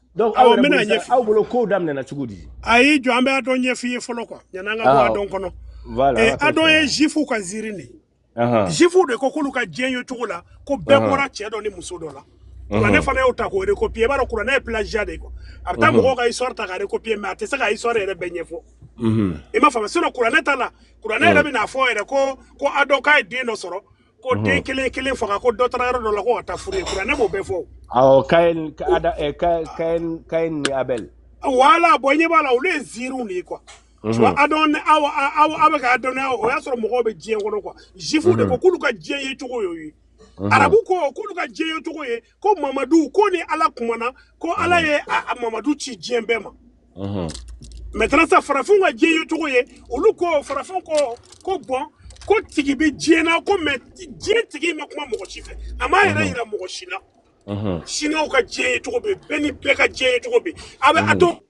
donc aw bɛna ɲɛfɔ aw bolo kow daminɛna cogo di ayi jɔ an bɛ Adam ɲɛf'i ye fɔlɔ quoi yan'an ka bɔ Adam kɔnɔ Adam ye zifuw ka ziiri de zifuw de ko k'olu ka diɲɛ ye cogo la ko bɛɛ bɔra cɛ dɔ ni muso dɔ la kuranɛ fana y'o ta k'o recopier i b'a dɔn kuranɛ ye plagiat de ye quoi a bɛ taa mɔgɔw ka histoire ta ka recopier mais a tɛ se ka histoire yɛrɛ bɛɛ ɲɛfɔ i m'a faamu sinon kuranɛ ta la kuranɛ yɛrɛ bɛ n'a fɔ yɛrɛ ko ko Adam k'a ye den dɔ sɔrɔ ko mhm. den kelen kelen faga ko dɔ taara yɔrɔ dɔ la ko ka taa furu ye kuranɛ b'o bɛɛ fɔ. awɔ Caïn ada eh, Caïn Caïn ni Abel. voilà bonya b'a la olu ye ziiriw de ye quoi. Mhm. Adam aw aw aw bɛ ka Adam aw o y'a sɔrɔ mɔgɔw bɛ diɲɛ kɔnɔ quoi zifu de mhm. ko k'olu ka diɲɛ ye cogo y'o ye arabu ko k'olu ka diɲɛ ye cogo ye. ko mamadu ko ni ala kumana ko ala ye mamadu ci diɲɛ bɛɛ ma maintenant sa farafinw ka diɲɛ ye cogo ye olu ko farafin ko ko bon ko tigi bɛ diɲɛ na ko mais diɲɛ tigi ma kuma mɔgɔ si fɛ a m'a yɛrɛ yira mɔgɔ si la siniwaw ka diɲɛ ye cogo bɛ bɛɛ ni bɛɛ ka diɲɛ ye cogo bɛ a bɛ a to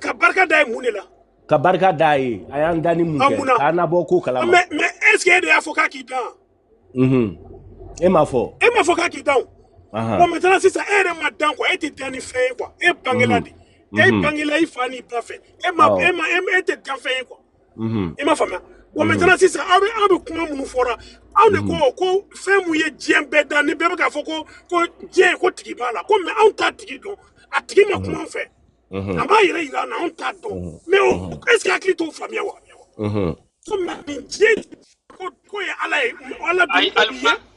ka barika da ye mun de la ka barika da ye a y'an dan ani mun kɛ k'an nabɔ ko kalama mais mais est ce que e de y'a fɔ k'a k'i dan unhun e m'a fɔ e m'a fɔ k'a k'i dan o bon maintenant sisan e yɛrɛ ma dan quoi e tɛ dannifɛn ye quoi e bangela de e bangela i fa n'i ba fɛ e ma e ma e tɛ danfɛn ye quoi mhm. i m'a faamuya wa bon maintenant sisan aw bɛ aw bɛ kuma minnu fɔra aw de ko mhm. ko fɛn mun ye diɲɛ bɛɛ dan ni bɛɛ bɛ k'a fɔ ko ko diɲɛ ko tigi b'a la ko mais anw t'a tigi dɔn a tigi ma kuma an fɛ a b'a yɛrɛ yira an na anw t'a dɔn mais est ce que hakili t'o faamuya wa ko mais nin diɲɛ ko ko ye ala ye ala bi ayi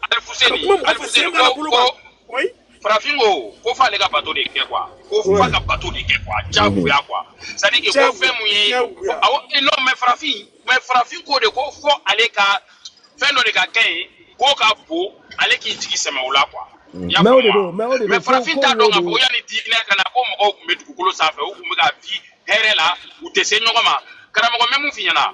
alifuseni alifuseni ko ko farafin ko ko f'ale ka bato de kɛ quoi ko f'a ka bato de kɛ quoi jagoya quoi c'est à dire que ko fɛn mun ye awɔ non mais farafin mais farafin ko de ko fo ale ka fɛn dɔ de ka kɛ yen k'o ka bon ale k'i jigi sɛmɛ o la quoi. mais o de don mais o de don mais farafin t'a dɔn k'a fɔ yanni diinɛ ka na ko mɔgɔw tun bɛ dugukolo sanfɛ u tun bɛ ka vi hɛrɛ la u tɛ se ɲɔgɔn ma karamɔgɔ mais mun f'i ɲɛna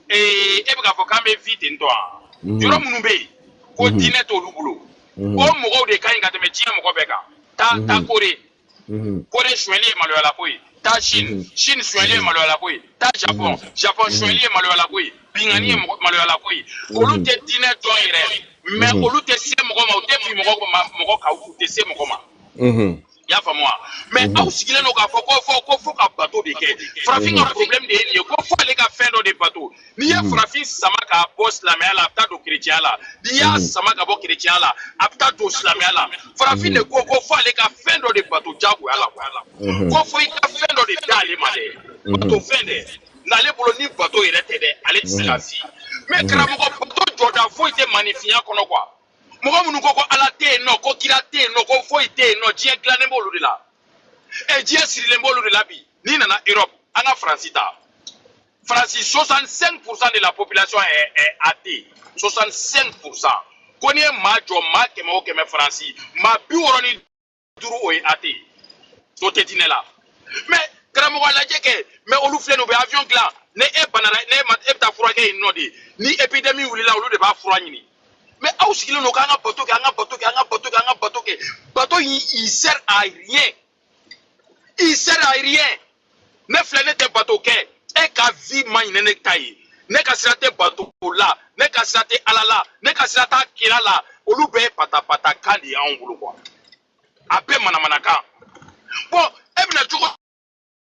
ee e bɛ k'a fɔ k'an bɛ vi ten tɔ wa yɔrɔ minnu bɛ yen ko diinɛ t'olu bolo ko mɔgɔw de ka ɲi ka tɛmɛ diɲɛ mɔgɔ bɛɛ kan taa taa kore kore sonyɛli ye maloyala ko ye taa sini sini sonyɛli ye maloyala ko ye taa japɔn japɔn sonyɛli ye maloyala ko ye binkanni ye maloyala ko ye olu tɛ diinɛ dɔn yɛrɛ mais olu tɛ se mɔgɔ ma u tɛ bin mɔgɔ ma mɔgɔ kan u tɛ se mɔgɔ ma i y'a faamu wa mais mhm. aw sigilen don k'a fɔ ko fo ko fo ka bato de kɛ farafin ka mhm. problème de ye nin ye ko fo ale ka fɛn dɔ de bato n'i ye mhm. farafin sama k'a bɔ silamɛya la a bɛ taa don kerecɛya la n'i y'a sama ka bɔ kerecɛya la a bɛ taa don silamɛya la farafin de ko ko fo ale ka fɛn dɔ de bato jagoya la ko fo i ka fɛn dɔ de d'ale ma dɛ bato fɛn dɛ n'ale bolo ni bato yɛrɛ tɛ dɛ ale tɛ se ka si mais karamɔgɔ bato jɔda foyi tɛ maaninfinya kɔnɔ quoi. mɔgɔ minnu ko ko ala tɛ yen nɔ ko kira tɛ yen nɔ ko foyi tɛ yen nɔ diɲɛ gilannen b'olu de la ɛ eh, diɲɛ sirilen b'olu de la bi n'i nana europe an ka faransi ta faransi 65 pourcent de la population est, est athée 65 pourcent ko n'i ye maa jɔ maa kɛmɛ o kɛmɛ faransi maa bi wɔɔrɔ ni duuru o ye athée o tɛ diinɛ la mais karamɔgɔ a lajɛ kɛ mais olu filɛ nin u bɛ avion gilan ni e banana ne ma e bɛ taa furakɛ yen nɔ de ni épidémie wulila olu de b'a fura ɲini mais aw sigilen don k'an ka bato kɛ an ka bato kɛ an ka bato kɛ an ka bato kɛ bato in il sert à rien il sert à rien ne filɛ ne tɛ bato kɛ e ka vi man ɲi ni ne ta ye ne ka sira tɛ bato la ne ka sira tɛ ala la ne ka sira t'a kira la olu bɛɛ ye patapata kan de ye anw bolo quoi a bɛɛ manamanakan bon e bɛna cogo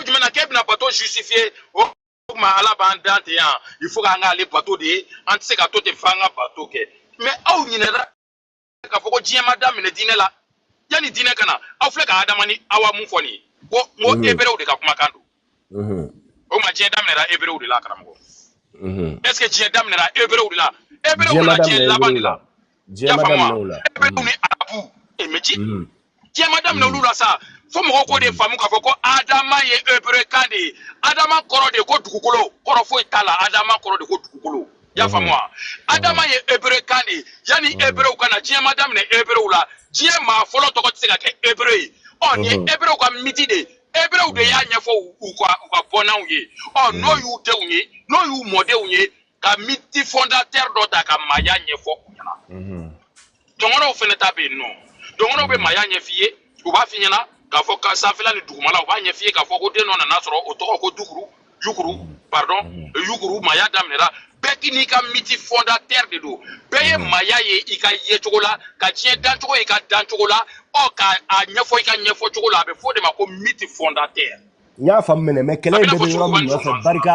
jumɛn na k'e bɛna bato justifier o oh, tuma ala b'an dan ten yan il faut k'an k'ale bato de an tɛ se ka to ten f'an ka bato kɛ mais aw ɲinɛna k'a fɔ ko diɲɛ ma daminɛ diinɛ la yanni diinɛ ka na aw filɛ ka adama ni awa mun fɔ nin ye ko n ko mhm. eberew de ka kumakan don mhm. o ma diɲɛ daminɛra eberew de la karamɔgɔ mhm. est ce que diɲɛ daminɛra eberew de la eberew na diɲɛ laban de la y'a faamu eberew ni arabu e mɛ ci diɲɛ ma daminɛ olu la sa fo mɔgɔw k'o de mm. faamu k'a fɔ ko adama ye hebrekan de ye adama kɔrɔ de ko dugukolo kɔrɔ foyi t'a la adama kɔrɔ de ko dugukolo y'a faamu wa adama ye hebrekan de ye yanni hebrew ka na diɲɛ ma daminɛ hebrew la diɲɛ maa fɔlɔ tɔgɔ tɛ se ka kɛ hebreu ye ɔ nin ye hebrew ka miti de ye hebrew de y'a ɲɛfɔ u ka u ka bɔnnaw ye ɔ n'o y'u denw ye n'o y'u mɔdenw ye ka miti fondateur dɔ ta ka maaya ɲɛfɔ u ɲɛna dɔngɔnɔw fɛnɛ ta bɛ yen nɔ dɔngɔnɔw bɛ maaya ɲɛf'i ye u b'a f'i ɲɛna k'a fɔ ka sanfɛla ni dugumala u b'a ɲɛf'i ye k'a fɔ ko den dɔ nana sɔrɔ o tɔgɔ ko dukuru yukuru pardon mm-hmm. yukuru maaya daminɛra bɛɛ k'i n'i ka miti fondateur de don bɛɛ ye mm-hmm. maaya ye i ka yecogo la ka diɲɛ dancogo ye i ka dancogo la ɔ ka a ɲɛfɔ i ka ɲɛfɔ cogo la a bɛ fɔ o de ma ko miti fondateur n y'a faamu mɛnɛ mais kɛlɛ in bɛɛ bɛ yɔrɔ min nɔfɛ barika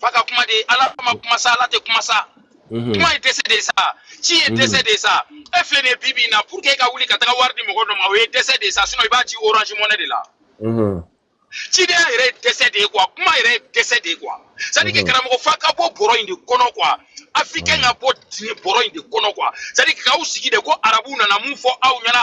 f'a ka kuma de ala ma kuma sa ala tɛ kuma sa mhm. kuma ye dɛsɛ de sa ci ye mhm. dɛsɛ de sa e filɛ nin ye bi bi in na pour que e ka wuli ka taga wari di mɔgɔ dɔ ma o ye dɛsɛ de sa sinon i b'a ci orange money de la mhm. cidenya yɛrɛ ye dɛsɛ de ye quoi kuma yɛrɛ ye dɛsɛ de ye quoi c'est à dire que karamɔgɔ f'a ka bɔ bɔrɔ in de kɔnɔ quoi africain ka bɔ diinɛ bɔrɔ in de kɔnɔ quoi c'est à dire que k'aw sigi de ko arabu nana mun fɔ aw ɲɛna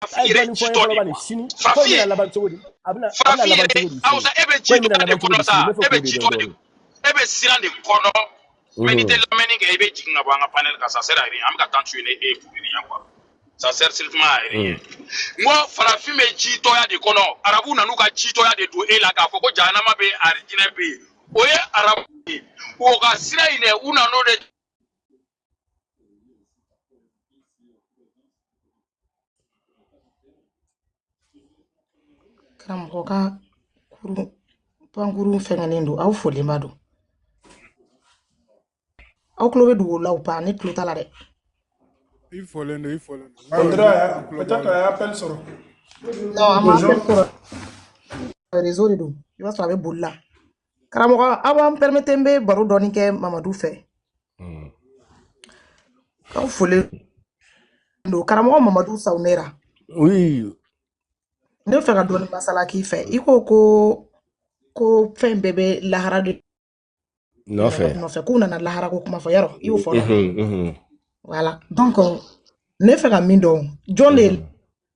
farafin yɛrɛ ye jitɔ de ye farafin ye farafin yɛrɛ awusa e bɛ jitɔya de kɔnɔ sa e bɛ jitɔ de e bɛ siran de kɔnɔ mais n'i tɛ lamɛnni kɛ i bɛ jigin ka bɔ an ka panel kan ça sert à rien an bɛ ka temps tuer n'e ye pour rien quoi ça sert strictement à rien n ko farafin bɛ jitɔya de kɔnɔ arabu nan'u ka jitɔya de don e la k'a fɔ ko jahanama bɛ yen arijinɛ bɛ yen o ye arabu ye o ka sira in dɛ u nan'o de Karamɔgɔ ka kurun pankurun fɛngɛlen don aw folenba don aw tulo bɛ dugu la ou pas ne tulo t'a la dɛ i folen don i folen don réseau de don i b'a sɔrɔ a bɛ boli la karamɔgɔ aw b'an permettre n bɛ baro dɔɔni kɛ mamadu fɛ hmm. aw folen don karamɔgɔ mamadu sawunera ne bɛ fɛ ka dɔɔni masala k'i fɛ i ko ko ko fɛn bɛɛ bɛ lahara de nɔfɛ k'u nana lahara ko kuma fɔ yarɔ i y'o fɔ voilà donc ne fɛ ka min dɔn jɔn de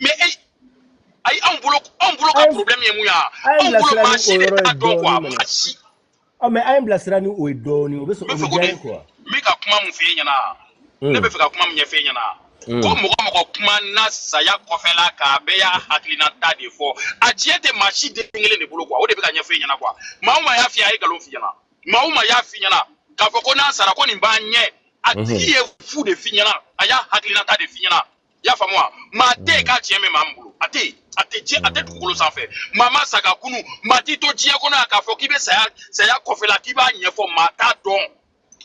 mais e ayi anw bolo anw bolo ka problème ye mun ye anw bolo maa si de t'a dɔn quoi maa si. ɔ mais an ye bilasira ni o ye dɔɔni o bɛ sɔrɔ o bɛ diya ye quoi. n bɛ ka kuma mun f'e ɲɛna ne bɛ fɛ ka kuma min ɲɛf'e ɲɛna. ko mɔgɔ mɔgɔ kuma na saya kɔfɛla k'a bɛɛ y'a hakilinata de fɔ a tiɲɛ tɛ maa si den kelen de bolo quoi o de bɛ ka ɲɛf'e ɲɛna quoi maa o maa y'a f'i ye a ye nkalon f'i ɲɛna maa o maa y'a f'i ɲɛna k'a fɔ ko n'a sara ko nin b'an ɲɛ a tigi ye fu de f'i ɲɛna a y'a hakilinata de f'i ɲɛna. i y'a faamu wa maa tɛ yen k'a tiɲɛ bɛ maa min bolo a tɛ yen a tɛ diɲɛ a tɛ dugukolo sanfɛ maa ma sa ka kunu maa t'i to diɲɛ kɔnɔ yan k'a fɔ k'i bɛ saya saya kɔfɛla k'i b'a ɲɛfɔ maa t'a dɔn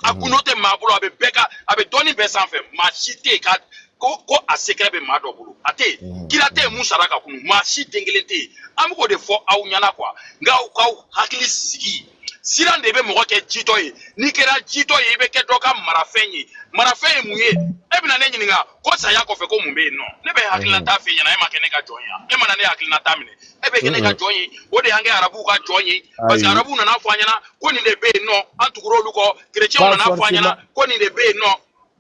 a gundo tɛ maa bolo a bɛ bɛɛ ka a bɛ dɔnni bɛɛ sanfɛ maa si tɛ yen ka ko ko a secret bɛ maa dɔ bolo a tɛ yen kira tɛ yen mun sara ka kunu maa si den kelen tɛ yen an bɛ k'o de fɔ aw ɲɛna quoi nka aw k'aw hakili sigi siran de bɛ mɔgɔ kɛ jitɔ ye n'i kɛra jitɔ ye i bɛ kɛ dɔ ka marafɛn ye marafɛn ye mun ye e bɛna ne ɲininka ko saya kɔfɛ ko mun bɛ yen nɔ ne bɛ hakilinata f'i ɲɛna e ma kɛ ne ka jɔn ye yan e mana ne hakilinata minɛ e bɛ kɛ ne ka jɔn ye o de y'an kɛ arabuw ka jɔn ye parce que arabuw nana fɔ an ɲɛna ko nin de bɛ yen nɔ an tugura olu kɔ kerecɛnw nana fɔ an ɲɛna ko nin de bɛ yen nɔ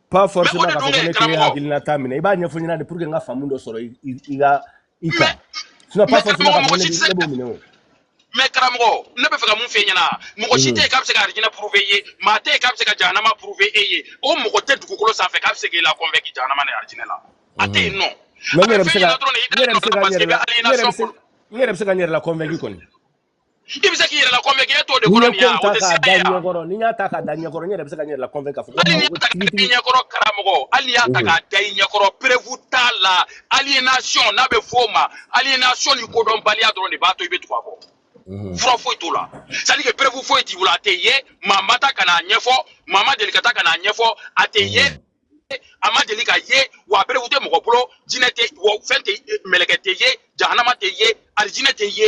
pas forcément k'a fɔ ko ne k'i hakilinata minɛ i b'a ɲɛfɔ ɲɛna de pour que n ka faamu dɔ sɔrɔ i ka i ka sinon pas forcément k'a fɔ ne ne b'o minɛ o mais karamɔgɔ ne bɛ fɛ ka mun f'e ɲɛna mɔgɔ si tɛ yen k'a bɛ se ka arijinɛ prouver i ye maa tɛ yen k'a bɛ se ka jahanama prouver e ye o mɔgɔ tɛ dugukolo sanfɛ k'a bɛ se k'e la convaincre jahanama ni arijinɛ la a tɛ yen nɔ mais n yɛrɛ bɛ se ka n yɛrɛ bɛ se ka n yɛrɛ la n yɛrɛ bɛ se ka n yɛrɛ la convaincre kɔni i bɛ se k'i yɛrɛ la convaincre e t'o de kɔrɔ nin ya o tɛ se ka ye wa ɲɛkɔrɔ ni n y'a ta k'a da ɲɛkɔrɔ n yɛrɛ bɛ se ka n yɛrɛ la convaincre k'a fɔ ko hali n'i y'a ta k'a da i ɲɛkɔrɔ karamɔgɔ hali n'i y'a ta k'a da i ɲɛkɔrɔ preuve t'a la aliénation n'a bɛ fɔ o ma aliénation ni kodɔnbaliya dɔrɔn de b'a to i bɛ tugu a kɔ fura foyi t'o la c'est à dire que preuve foyi t'i bolo a tɛ ye maa ma ta ka n'a ɲɛfɔ maa ma deli ka ta ka n'a ɲɛfɔ a tɛ ye a ma deli ka ye wa preuve tɛ mɔgɔ bolo jinɛ tɛ wa fɛn tɛ mɛlɛkɛ tɛ ye jahanama tɛ ye alijinɛ tɛ ye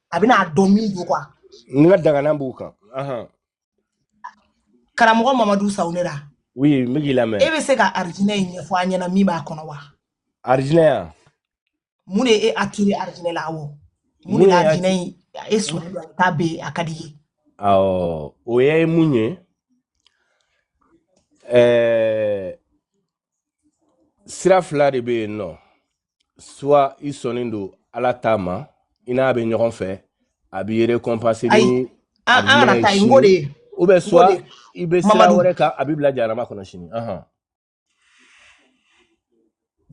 a bɛna a dɔn min don quoi n ka daganan b'u kan karamɔgɔ mamadu sawunera oui n bɛ k'i lamɛn e bɛ se ka arijinɛ in ɲɛfɔ an ɲɛna min b'a kɔnɔ wa arijinɛ yan mun de ye e attirer arijinɛ la awɔ mun de la arijinɛ in e sɔrɔ la k'a bɛ a ka di ye awɔ o ye mun ye ɛɛ sira fila de bɛ yen nɔ soit i sɔnnen don ala ta ma i n'a bɛ ɲɔgɔn fɛ a b'i récompenser ni arijinɛ ye sini ou bien soit i bɛ sira wɛrɛ kan a b'i bila jahanama kɔnɔ sini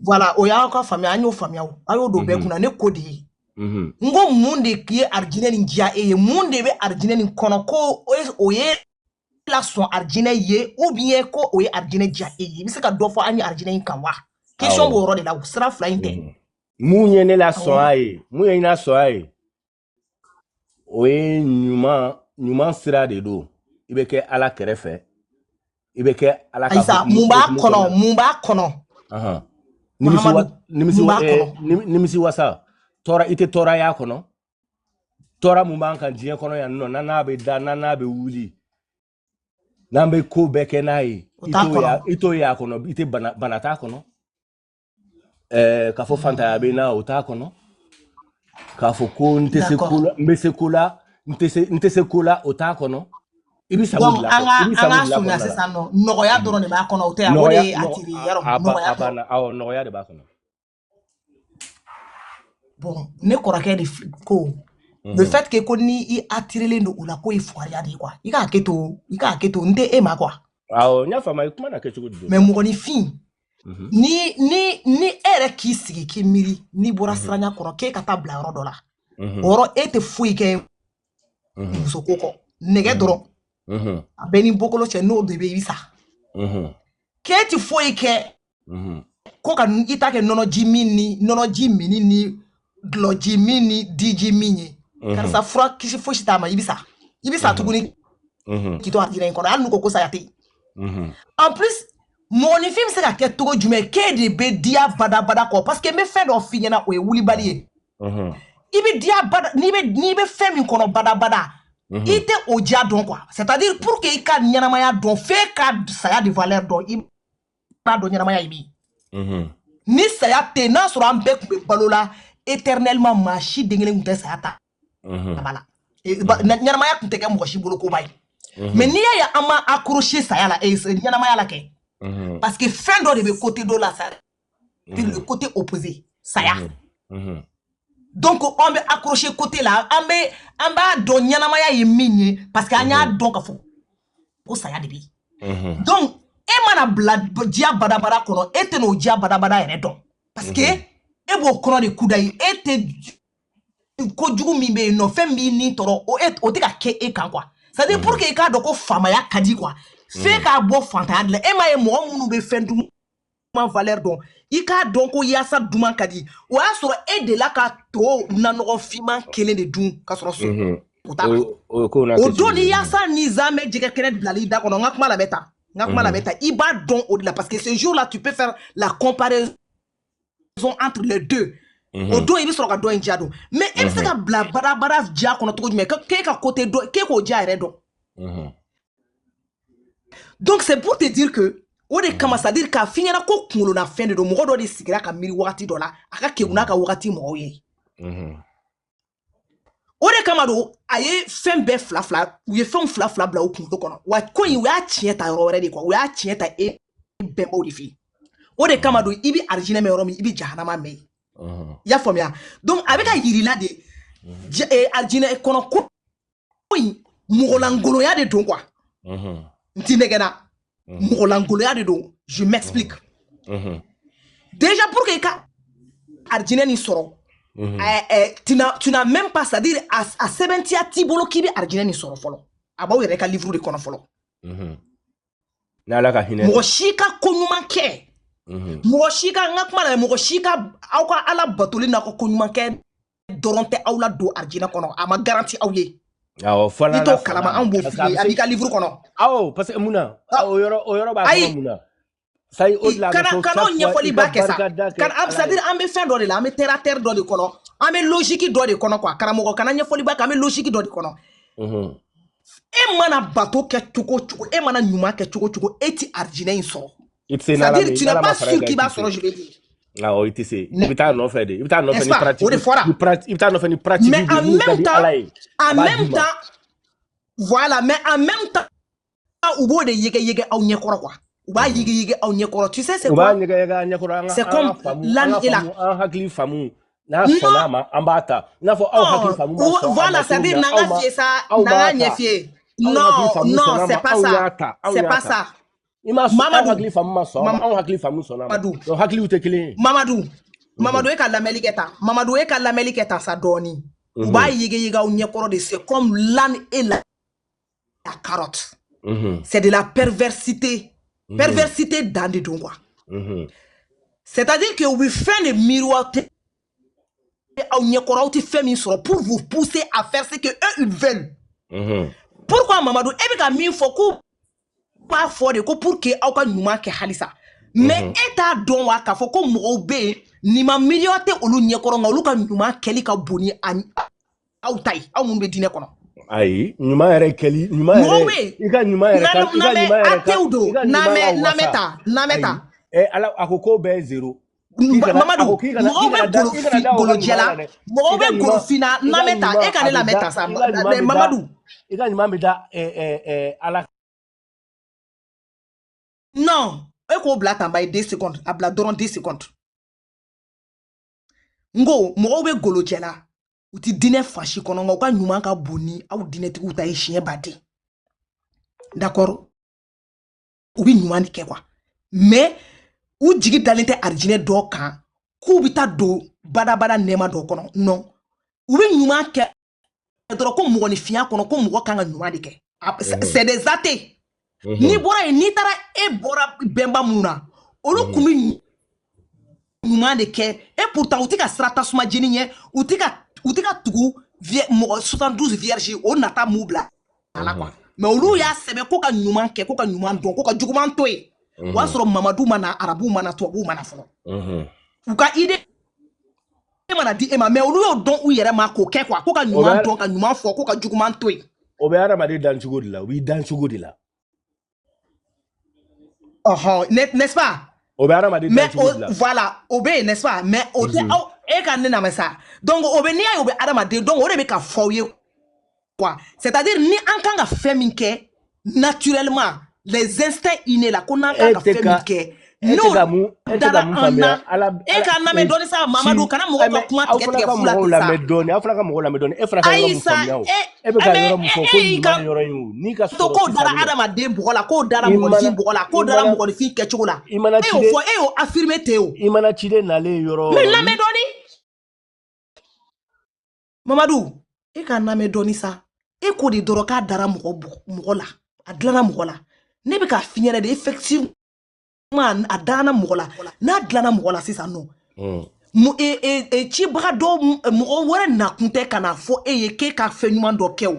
voilà o y'aw ka faamuya an y'o faamuya a y'o don bɛɛ mhm. kunna ne ko de ye mhm. n ko mun de ye arijinɛ nin diya e ye mun de bɛ arijinɛ nin kɔnɔ ko o ye lasɔn arijinɛ ye ou bien ko o ye arijinɛ diya e ye i bɛ se ka dɔ fɔ an ye arijinɛ in kan wa question b'o yɔrɔ de la sira fila in tɛ mhm. mun ye ne lasɔn a ye mun ye ne lasɔn a ye o ye ɲuman ɲuman sira de don i bɛ kɛ ala kɛrɛfɛ i bɛ kɛ ala ka ayisa mun b'a kɔnɔ mun b'a kɔnɔ nimisiwasa tɔɔrɔ i tɛ tɔɔrɔ a kɔnɔ tɔɔrɔ mun b'an kan diɲɛ kɔnɔ yan nɔ n'an n'a bɛ da n'an n'a bɛ wuli n'an bɛ ko bɛɛ kɛ n'a ye i t'o ye a kɔnɔ i tɛ bana bana t'a kɔnɔ ɛɛ k'a fɔ fantanya bɛ n na o t'a kɔnɔ k'a fɔ ko n tɛ se ko la n bɛ se ko la n tɛ se n tɛ se ko la o t'a kɔnɔ i bɛ sago bila kɔnɔ i bɛ sago bila kɔnɔ sisan nɔ nɔgɔya dɔrɔn de b'a kɔnɔ o tɛ yan o de ye attiré yɔrɔ nɔgɔya a banna awɔ nɔgɔya de b'a kɔnɔ bon ne kɔrɔkɛ de ko mhm. le fait que ko ni i attirelen don o la ko i fugariya de ye quoi i ka hakɛto i ka hakɛto n tɛ e ma quoi awɔ n y'a faamu i kuma na kɛ cogo di mais mɔgɔninfin mhm. ni ni ni e yɛrɛ k'i sigi k'i miiri n'i bɔra mhm. siranya kɔrɔ k'e ka taa bila yɔrɔ dɔ la o yɔrɔ e tɛ foyi kɛ musoko kɔ nege dɔrɔn a bɛɛ ni bɔkolo cɛ n'o de bɛ i sa k'e tɛ foyi kɛ mhm. ko ka i ta kɛ nɔnɔji min ni nɔnɔji min ni dulɔji min ni diji min ye mhm. karisa fura kisi fosi t'a ma i bɛ sa i bɛ sa tuguni k'i to arijinɛ in kɔnɔ hali n'u ko ko saya tɛ yen en plus mɔgɔninfin bɛ se ka kɛ cogo jumɛn k'e de bɛ diya badabada kɔ parce que n bɛ fɛn dɔ f'i ɲɛna o ye wulibali ye i bɛ diya bada n'i bɛ n'i bɛ fɛn min kɔnɔ badabada Mhm. i tɛ o diya dɔn quoi c'est à dire pour que i ka ɲɛnamaya dɔn f'e ka saya de valeur dɔn i b'a dɔn ɲɛnamaya ye min ye ni saya tɛ n'a sɔrɔ an bɛɛ tun bɛ balo la éternellement maa si den kelen tun tɛ saya ta kaba la ɲɛnamaya tun tɛ kɛ mɔgɔ si bolo koba ye mais n'i y'a ye an ma accroché saya la ɲɛnamaya la kɛ parce que fɛn dɔ de bɛ côté dɔ la sa le côté opposé saya donc an bɛ accroché côté la an bɛ an b'a dɔn ɲɛnamaya ye min ye parce que an y'a dɔn ka fɔ ko saya de bɛ yen donc e mana bila diya badabada kɔnɔ e tɛn'o diya badabada yɛrɛ dɔn parce que e b'o kɔnɔ de kudayi e tɛ ko jugu min bɛ yen nɔ fɛn b'i ni tɔɔrɔ o e o tɛ ka kɛ e kan quoi c'est à dire pour que e k'a dɔn ko faamaya ka di quoi f'e ka bɔ fantanya de la e m'a ye mɔgɔ minnu bɛ fɛn dun duman valeur dɔn i k'a dɔn ko yaasa duman ka di o y'a sɔrɔ e delila ka to nanɔgɔ finman kelen de dun ka sɔrɔ so mhm. o t'a o don ni yaasa ni zamɛ jɛgɛ kɛnɛ bilala i da kɔnɔ n ka kuma labɛn ta n ka kuma mhm. labɛn ta i b'a dɔn o de la parce que ce jour là tu peux faire la comparaison entre les deux mhm. o don i bɛ sɔrɔ ka dɔ in diya dɔn mais e bɛ se ka bila badabada diya kɔnɔ cogo jumɛn k'e ka kote dɔn k'e k'o diya yɛrɛ dɔn donc c'est pour te dire que o de kama c'est à dire k'a f'i ɲɛna ko kunkololafɛn de don mɔgɔ dɔ de sigira ka miiri wagati dɔ la a ka kegun n'a ka wagati mɔgɔw ye o de kama don a ye fɛn bɛɛ fila fila u ye fɛnw fila fila bila u kunkolo kɔnɔ wa ko in u y'a tiɲɛ ta yɔrɔ wɛrɛ de quoi u y'a tiɲɛ ta e bɛnbaw de fɛ yen o de kama don i bɛ arijinɛ mɛn yɔrɔ min i bɛ jahanama mɛn yen i y'a faamuya donc a bɛ k'a yir'i la de arijinɛ kɔnɔ ko ko in mɔgɔlankolonya de don quoi n t'i nɛgɛnna mɔgɔlankolonya de don je m'explique déjà pour que i ka arijinɛ nin sɔrɔ tu n'as même pas c'est à dire a sɛbɛntiya t'i bolo k'i bɛ arijinɛ nin sɔrɔ fɔlɔ a b'aw yɛrɛ ka livre de kɔnɔ fɔlɔ n'ala ka hinɛ mɔgɔ si ka ko ɲuman kɛ mhm. mɔgɔ si ka n ka kuma na mɔgɔ si ka aw ka ala batoli n'a ka ko ɲuman kɛ dɔrɔn tɛ aw ladon arijinɛ kɔnɔ a ma garanti aw ye awɔ f'ala i t'o kalama anw b'o f'i ye a b'i ka livre kɔnɔ awɔ parce que mun na o yɔrɔ o yɔrɔ b'a kɔnɔ mun na sayi o de la a bɛ kana fɔ kana o chaque fois i ɲɛfɔli ka ba kɛ sa barika da kɛ kana a- ala c'est à ye dire an bɛ fɛn dɔ de la an bɛ terre à terre dɔ de kɔnɔ an bɛ logique dɔ de kɔnɔ quoi karamɔgɔ kana ɲɛfɔli ba kɛ an bɛ logique dɔ de kɔnɔ Mhm. e mana bato kɛ cogo o cogo e mana ɲuman kɛ cogo o cogo e ti arijinɛ in sɔrɔ i tɛ se c'est à n'ala dire mɛ tu n'es n'ala ma pas fara i sûr kan i k'i tɛ b'a se sɔrɔ je vais dire awɔ i tɛ se i ne bɛ taa nɔfɛ de i bɛ taa nɔfɛ n'est-ce ni pas o pratique de fɔra ni pratique i bɛ taa nɔfɛ ni pratique mais de en min ka même di temps ala ye a en b'a d'i même ma temps voilà mais en même temps u b'o de yege yege aw ɲɛ kɔrɔ quoi u b'a yigi yigi aw ɲɛ kɔrɔ tu sais c'est quoi u b'a yɛgɛ yɛgɛ an ɲɛ kɔrɔ an ka c'est comme l'âne et la an hakili faamu n'a sɔnna a ma an b'a ta i n'a fɔ aw hakili faamu ma sɔn voilà c'est à dire n'an ka fiye sa n'an ka ɲɛ fiye non non c'est pas ça c'est pas ça i m'a sɔn aw hakili faamu ma sɔn aw hakili faamu sɔnna a ma donc hakiliw tɛ kelen ye mamadu mamadu e ka lamɛli kɛ tan mamadu e ka lamɛli kɛ tan sa dɔɔni u b'a yege yege aw ɲɛ kɔrɔ de c'est comme l'âne et la la carotte. Mhm. C'est de la perversité. Mhm. Perversité dan de don, quoi. Mhm. C'est-à-dire que u bɛ fɛn de miroiter aw ɲɛkɔrɔ aw tɛ fɛn min sɔrɔ pour vous pousser à faire ce que eux ils veulent. Pourquoi Mamadou i bɛ ka min fɔ k'u b'a fɔ de ko pour que aw ka ɲuman kɛ halisa mais e t'a dɔn wa k'a fɔ ko mɔgɔw bɛ yen nin ma miroiter olu ɲɛkɔrɔ nka olu ka ɲuman kɛli ka bon ni a aw ta ye aw min bɛ diinɛ kɔnɔ ayi ɲuman yɛrɛ kɛli ɲuman yɛrɛ i ka ɲuman yɛrɛ ka i ka ɲuman yɛrɛ ka athées don n lamɛn n lamɛn tan n lamɛn tan ɛ ala a ko k'o bɛɛ ye zero mamadu mɔgɔw bɛ golofi golojɛla mɔgɔw bɛ golofinna n lamɛn tan e ka ne lamɛn tan sa mamadu i ka ɲuman bɛ da ala non e k'o bila tan bayi deux secondes a bila dɔrɔn deux secondes n ko mɔgɔw bɛ golojɛla u tɛ diinɛ fasi kɔnɔ nka u ka ɲuman ka bon ni aw diinɛtigiw ta ye siɲɛ ba de d'accord u bɛ ɲuman de kɛ quoi mais u jigi dalen tɛ arijinɛ dɔ kan k'u bɛ taa don badabada nɛɛma dɔ kɔnɔ non u bɛ ɲuman kɛ dɔrɔn ko mɔgɔninfinya kɔnɔ ko mɔgɔ kan ka ɲuman de kɛ c'est des athées n'i bɔra yen n'i taara e bɔra bɛnba minnu na olu kun bɛ ɲuman de kɛ e pourtant u tɛ ka siran tasuma jeni ɲɛ u tɛ ka u tɛ ka tugu mɔgɔ 72 vierges o nata m'u bila a la quoi mais olu y'a sɛbɛn ko ka ɲuman kɛ ko ka ɲuman dɔn ko ka juguman to yen o y'a sɔrɔ mamadu ma na arabu ma na tubabuw ma na fɔlɔ u ka idée e ma na di e ma mais olu y'o dɔn u yɛrɛ ma k'o kɛ quoi ko ka ɲuman dɔn ka ɲuman fɔ ko ka juguman to yen o bɛ hadamaden dan cogo de la o b'i dan cogo de la ɔhɔn n'est-ce pas o bɛ hadamaden dan cogo de la voilà o bɛ yen n'est-ce pas mais o tɛ aw e ka ne lamɛn sa donc o bɛ n'i y'a ye o bɛ hadamaden donc o de bɛ ka fɔ aw ye quoi c'est à dire ni an kan ka fɛn min kɛ naturellement les instincts innés là ko n'an kan ka fɛn min kɛ n'o dara an na e ka n lamɛn dɔɔni sa mamadu kana mɔgɔw ka kuma tigɛ tigɛ fula tɛ sa aw fana ka mɔgɔw lamɛn dɔɔni e fana ka yɔrɔ min faamuya o e bɛ ka yɔrɔ min fɔ ko nin ma yɔrɔ in o n'i ka sɔrɔ to k'o dara hadamaden bɔgɔ la k'o dara mɔgɔninfin bɔgɔ la k'o dara mɔgɔninfin kɛcogo la e y'o fɔ e y'o affirmer ten o i mana ciden nalen yɔrɔ lamɛn dɔɔni mamadu e ka n lamɛn dɔɔni sa e ko de dɔrɔn k'a dara mɔgɔ mɔgɔ la a dilanna mɔgɔ la ne bɛ k'a f'i ɲɛna de effectivement a danna mɔgɔ la n'a dilanna mɔgɔ la sisan nɔ e, e, e, cibaga dɔ mɔgɔ wɛrɛ nakun tɛ ka n'a fɔ e ye k'e ka fɛn ɲuman dɔ kɛ o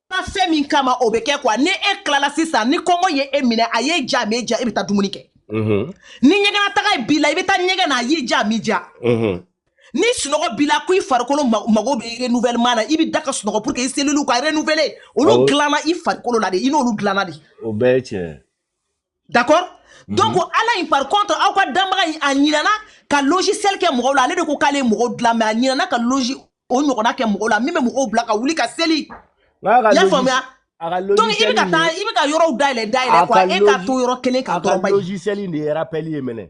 na fɛn min kama o bɛ kɛ quoi ni e tilala sisan ni kɔngɔ ye e minɛ a y'i diya m'i diya e bɛ taa dumuni kɛ mhm. ni ɲɛgɛnna taga b'i la i bɛ taa ɲɛgɛn na a y'i diya m'i diya mhm. ni sunɔgɔ b'i la ko i farikolo mago bɛ renouvellement na i bɛ da ka sunɔgɔ pour que i cellules ka renouveler olu dilanna i farikolo la de i n'olu dilanna de. o bɛɛ ye tiɲɛ ye. d'accord mhm. donc ala in par contre aw ka danbaga in a ɲinana ka logiciel kɛ mɔgɔw la ale de ko k'ale ye mɔgɔw dilan mais a ɲinana ka logi o ɲɔgɔnna kɛ mɔgɔw la min bɛ mɔgɔw bila ka wuli ka seli y'a faamuya donc i bɛ ka taa i bɛ ka yɔrɔw dayɛlɛ dayɛlɛ quoi e ka to yɔrɔ kelen kan dɔrɔn bayi logiciel in de ye rappel ye mɛnɛ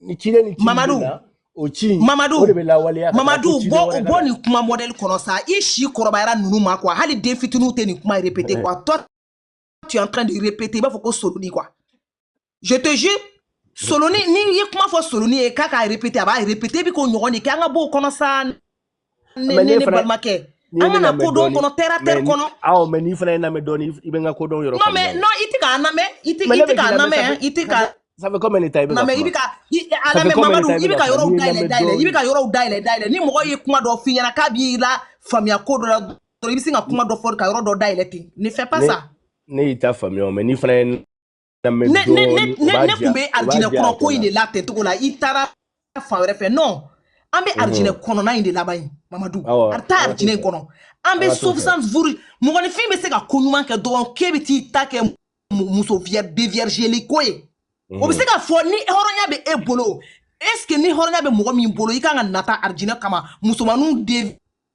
ni ciden ni mamadu o ci mamadu o de bɛ lawaleya mamadu bɔ o bɔ nin kuma modèle kɔnɔ sa i si kɔrɔbayara ninnu ma quoi hali den fitininw tɛ nin kuma répéter quoi toi tu es en train de répéter i b'a fɔ ko soloni quoi je te jure soloni n'i ye kuma fɔ soloni ye k'a k'a répéter a b'a répéter i bɛ k'o ɲɔgɔn de kɛ an ka bɔ o kɔnɔ sa ne ne ne balimakɛ an mana kodɔn kɔnɔ terre à terre kɔnɔ mais n'i fana ye n lamɛn dɔɔni i bɛ n ka kodɔn yɔrɔ non mais non i tɛ ka n lamɛn i tɛ i tɛ ka n lamɛn i tɛ ka ça fait combien de temps i bɛ ka kuma i bɛ ka a lamɛn Mamadu i bɛ ka yɔrɔw dayɛlɛ dayɛlɛ i bɛ ka yɔrɔw dayɛlɛ dayɛlɛ ni mɔgɔ ye kuma dɔ f'i ɲɛna k'a b'i la faamuya ko dɔ la dɔrɔn i bɛ sin ka kuma dɔ fɔ ka yɔrɔ dɔ dayɛlɛ ten ne fais pas ça ne y'i ta faamuya mais n'i fana ye ne ne ne ne tun bɛ alijinɛ kɔnɔ ko in de la tantôt là i taara fan wɛrɛ fɛ non an bɛ alijinɛ kɔnɔna in de laban yen mamadu a bɛ taa alijinɛ in kɔnɔ an bɛ sofisan vuru mɔgɔninfin bɛ se ka ko ɲuman kɛ dɔrɔn k'e bɛ t'i ta kɛ muso déviergéli ko ye o bɛ se ka fɔ ni hɔrɔnya bɛ e bolo est ce que ni hɔrɔnya bɛ mɔgɔ min bolo i kan ka nata alijinɛ kama musomanninw de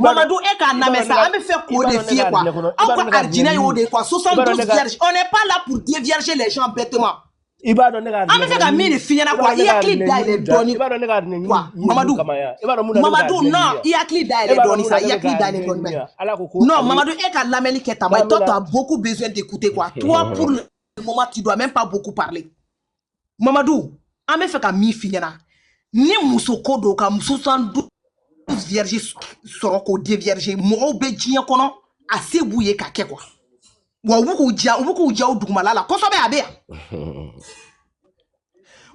Mamadu e ka n lamɛn sa an bɛ fɛ k'o de f'i ye quoi aw ka arijinɛ y'o de ye quoi 72 vierges on n'est pas là pour dévierger les gens bêtement i b'a dɔn ne ka an bɛ fɛ ka min de f'i ɲɛna quoi i hakili dayɛlɛ dɔɔni quoi Mamadu Mamadu non i hakili dayɛlɛ dɔɔni sa i hakili dayɛlɛ dɔɔni bɛ non Mamadu e ka lamɛnni kɛ tan toi tu as beaucoup besoin d'écouter quoi toi pour le moment tu dois même pas beaucoup parler mamadu an bɛ fɛ ka min f'i ɲɛna ni muso ko don ka muso 72 vierges sɔrɔ k'o dévierger mɔgɔw bɛ diɲɛ kɔnɔ a se b'u ye k'a kɛ quoi wa u bɛ k'u ja u bɛ k'u ja u dugumala la kosɛbɛ a bɛ yan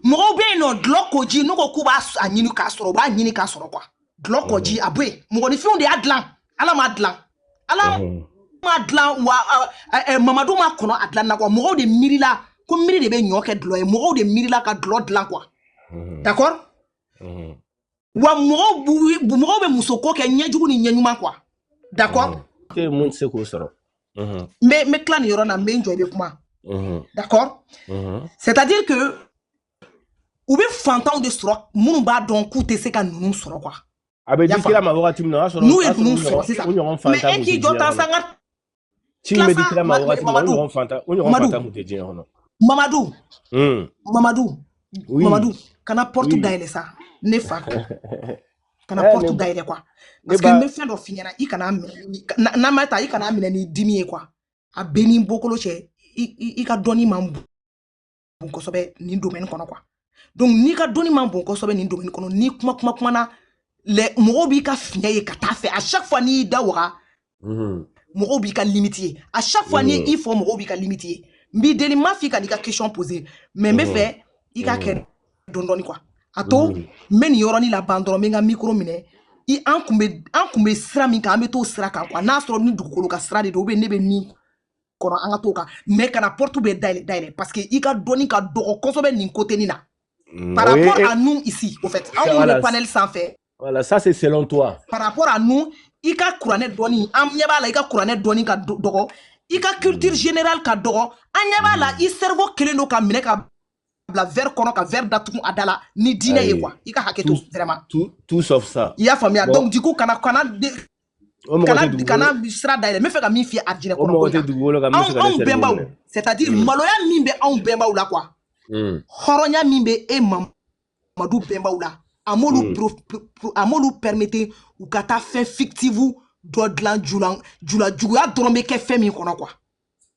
mɔgɔw bɛ yen non dulɔ kɔji n'u ko k'u b'a ɲini k'a sɔrɔ u b'a ɲini k'a sɔrɔ quoi dulɔ kɔji a bɛ yen mɔgɔninfinw de y'a dilan ala m'a dilan ala m'a dilan wa mamadu ma kɔnɔ a dilan na quoi mɔgɔw de miirila ko miiri de bɛ ɲɔ kɛ dulɔ ye mɔgɔw de miirila ka dulɔ dilan quoi d'accord wa mɔgɔw mɔgɔw bɛ musoko kɛ ɲɛjugu ni ɲɛɲuman quoi d'accord mun tɛ se k'o sɔrɔ n bɛ n bɛ tila nin yɔrɔ la n bɛ n jɔ i bɛ kuma d'accord c'est à dire que u bɛ fantanw de sɔrɔ minnu b'a dɔn k'u tɛ se ka ninnu sɔrɔ quoi a bɛ di kira ma wagati min na o y'a sɔrɔ n'u ye ninnu sɔrɔ sisan mais e k'i jɔ tan sa n ka ci bɛ di kira ma wagati min na o ɲɔgɔn fantan o ɲɔgɔn fantan tun tɛ diɲɛ kɔnɔ mamadu mamadu mamadu kana porte dayɛlɛ sa ne fa kana porte dayɛlɛ quoi parce que n bɛ fɛn dɔ f'i ɲɛna i kana minɛ n'a ma ta i kan'a minɛ ni dimi ye quoi a bɛ n'i bɔkolo cɛ i ka dɔnni man bon bon kosɛbɛ nin domaine kɔnɔ quoi donc n'i ka dɔnni man bon kosɛbɛ nin domaine kɔnɔ n'i kuma kuma kumana lɛ mɔgɔw b'i ka fiɲɛ ye ka taa fɛ à chaque fois n'i y'i da waga mhm. mɔgɔw b'i ka limite ye à chaque fois n'i mhm. i fɔ mɔgɔw b'i ka limite ye n b'i deli n m'a f'i kan'i ka question poser mais n bɛ mhm. fɛ i ka kɛ dɔn dɔɔni quoi a to n bɛ nin yɔrɔnin laban dɔrɔn n bɛ n ka micro minɛ i an kun bɛ an kun bɛ sira min kan an bɛ t'o sira kan quoi n'a sɔrɔ ni dugukolo ka sira de don ou bien ne bɛ min kɔnɔ an ka t'o kan mais kana porte bɛɛ dayɛlɛ dayɛlɛ parce que i ka dɔnni ka dɔgɔ kosɛbɛ nin côté nin na mm, par rapport à nous ici au fait anw minnu bɛ panel sanfɛ voilà ça c'est selon toi par rapport à nous i ka kuranɛ dɔnni an ɲɛ b'a la i ka kuranɛ dɔnni ka dɔgɔ i ka culture mm. générale ka dɔgɔ an ɲɛ b'a la mm. i cerveau kɛlen don ka minɛ ka bila verre kɔnɔ ka verre datugu a da la ni diinɛ ye quoi i ka hakɛ to vraiment tout tout sauf ça i y'a faamuya donc du coup kana kana kana kana sira dayɛlɛ n bɛ fɛ ka min f'i ye arijinɛ kɔnɔ anw bɛnbaw c'est à dire maloya min bɛ anw bɛnbaw la quoi hɔrɔnya min bɛ e mamadu bɛnbaw la a m'olu a m'olu permettre u ka taa fɛn fictive dɔ dilan jula jula juguya dɔrɔn bɛ kɛ fɛn min kɔnɔ quoi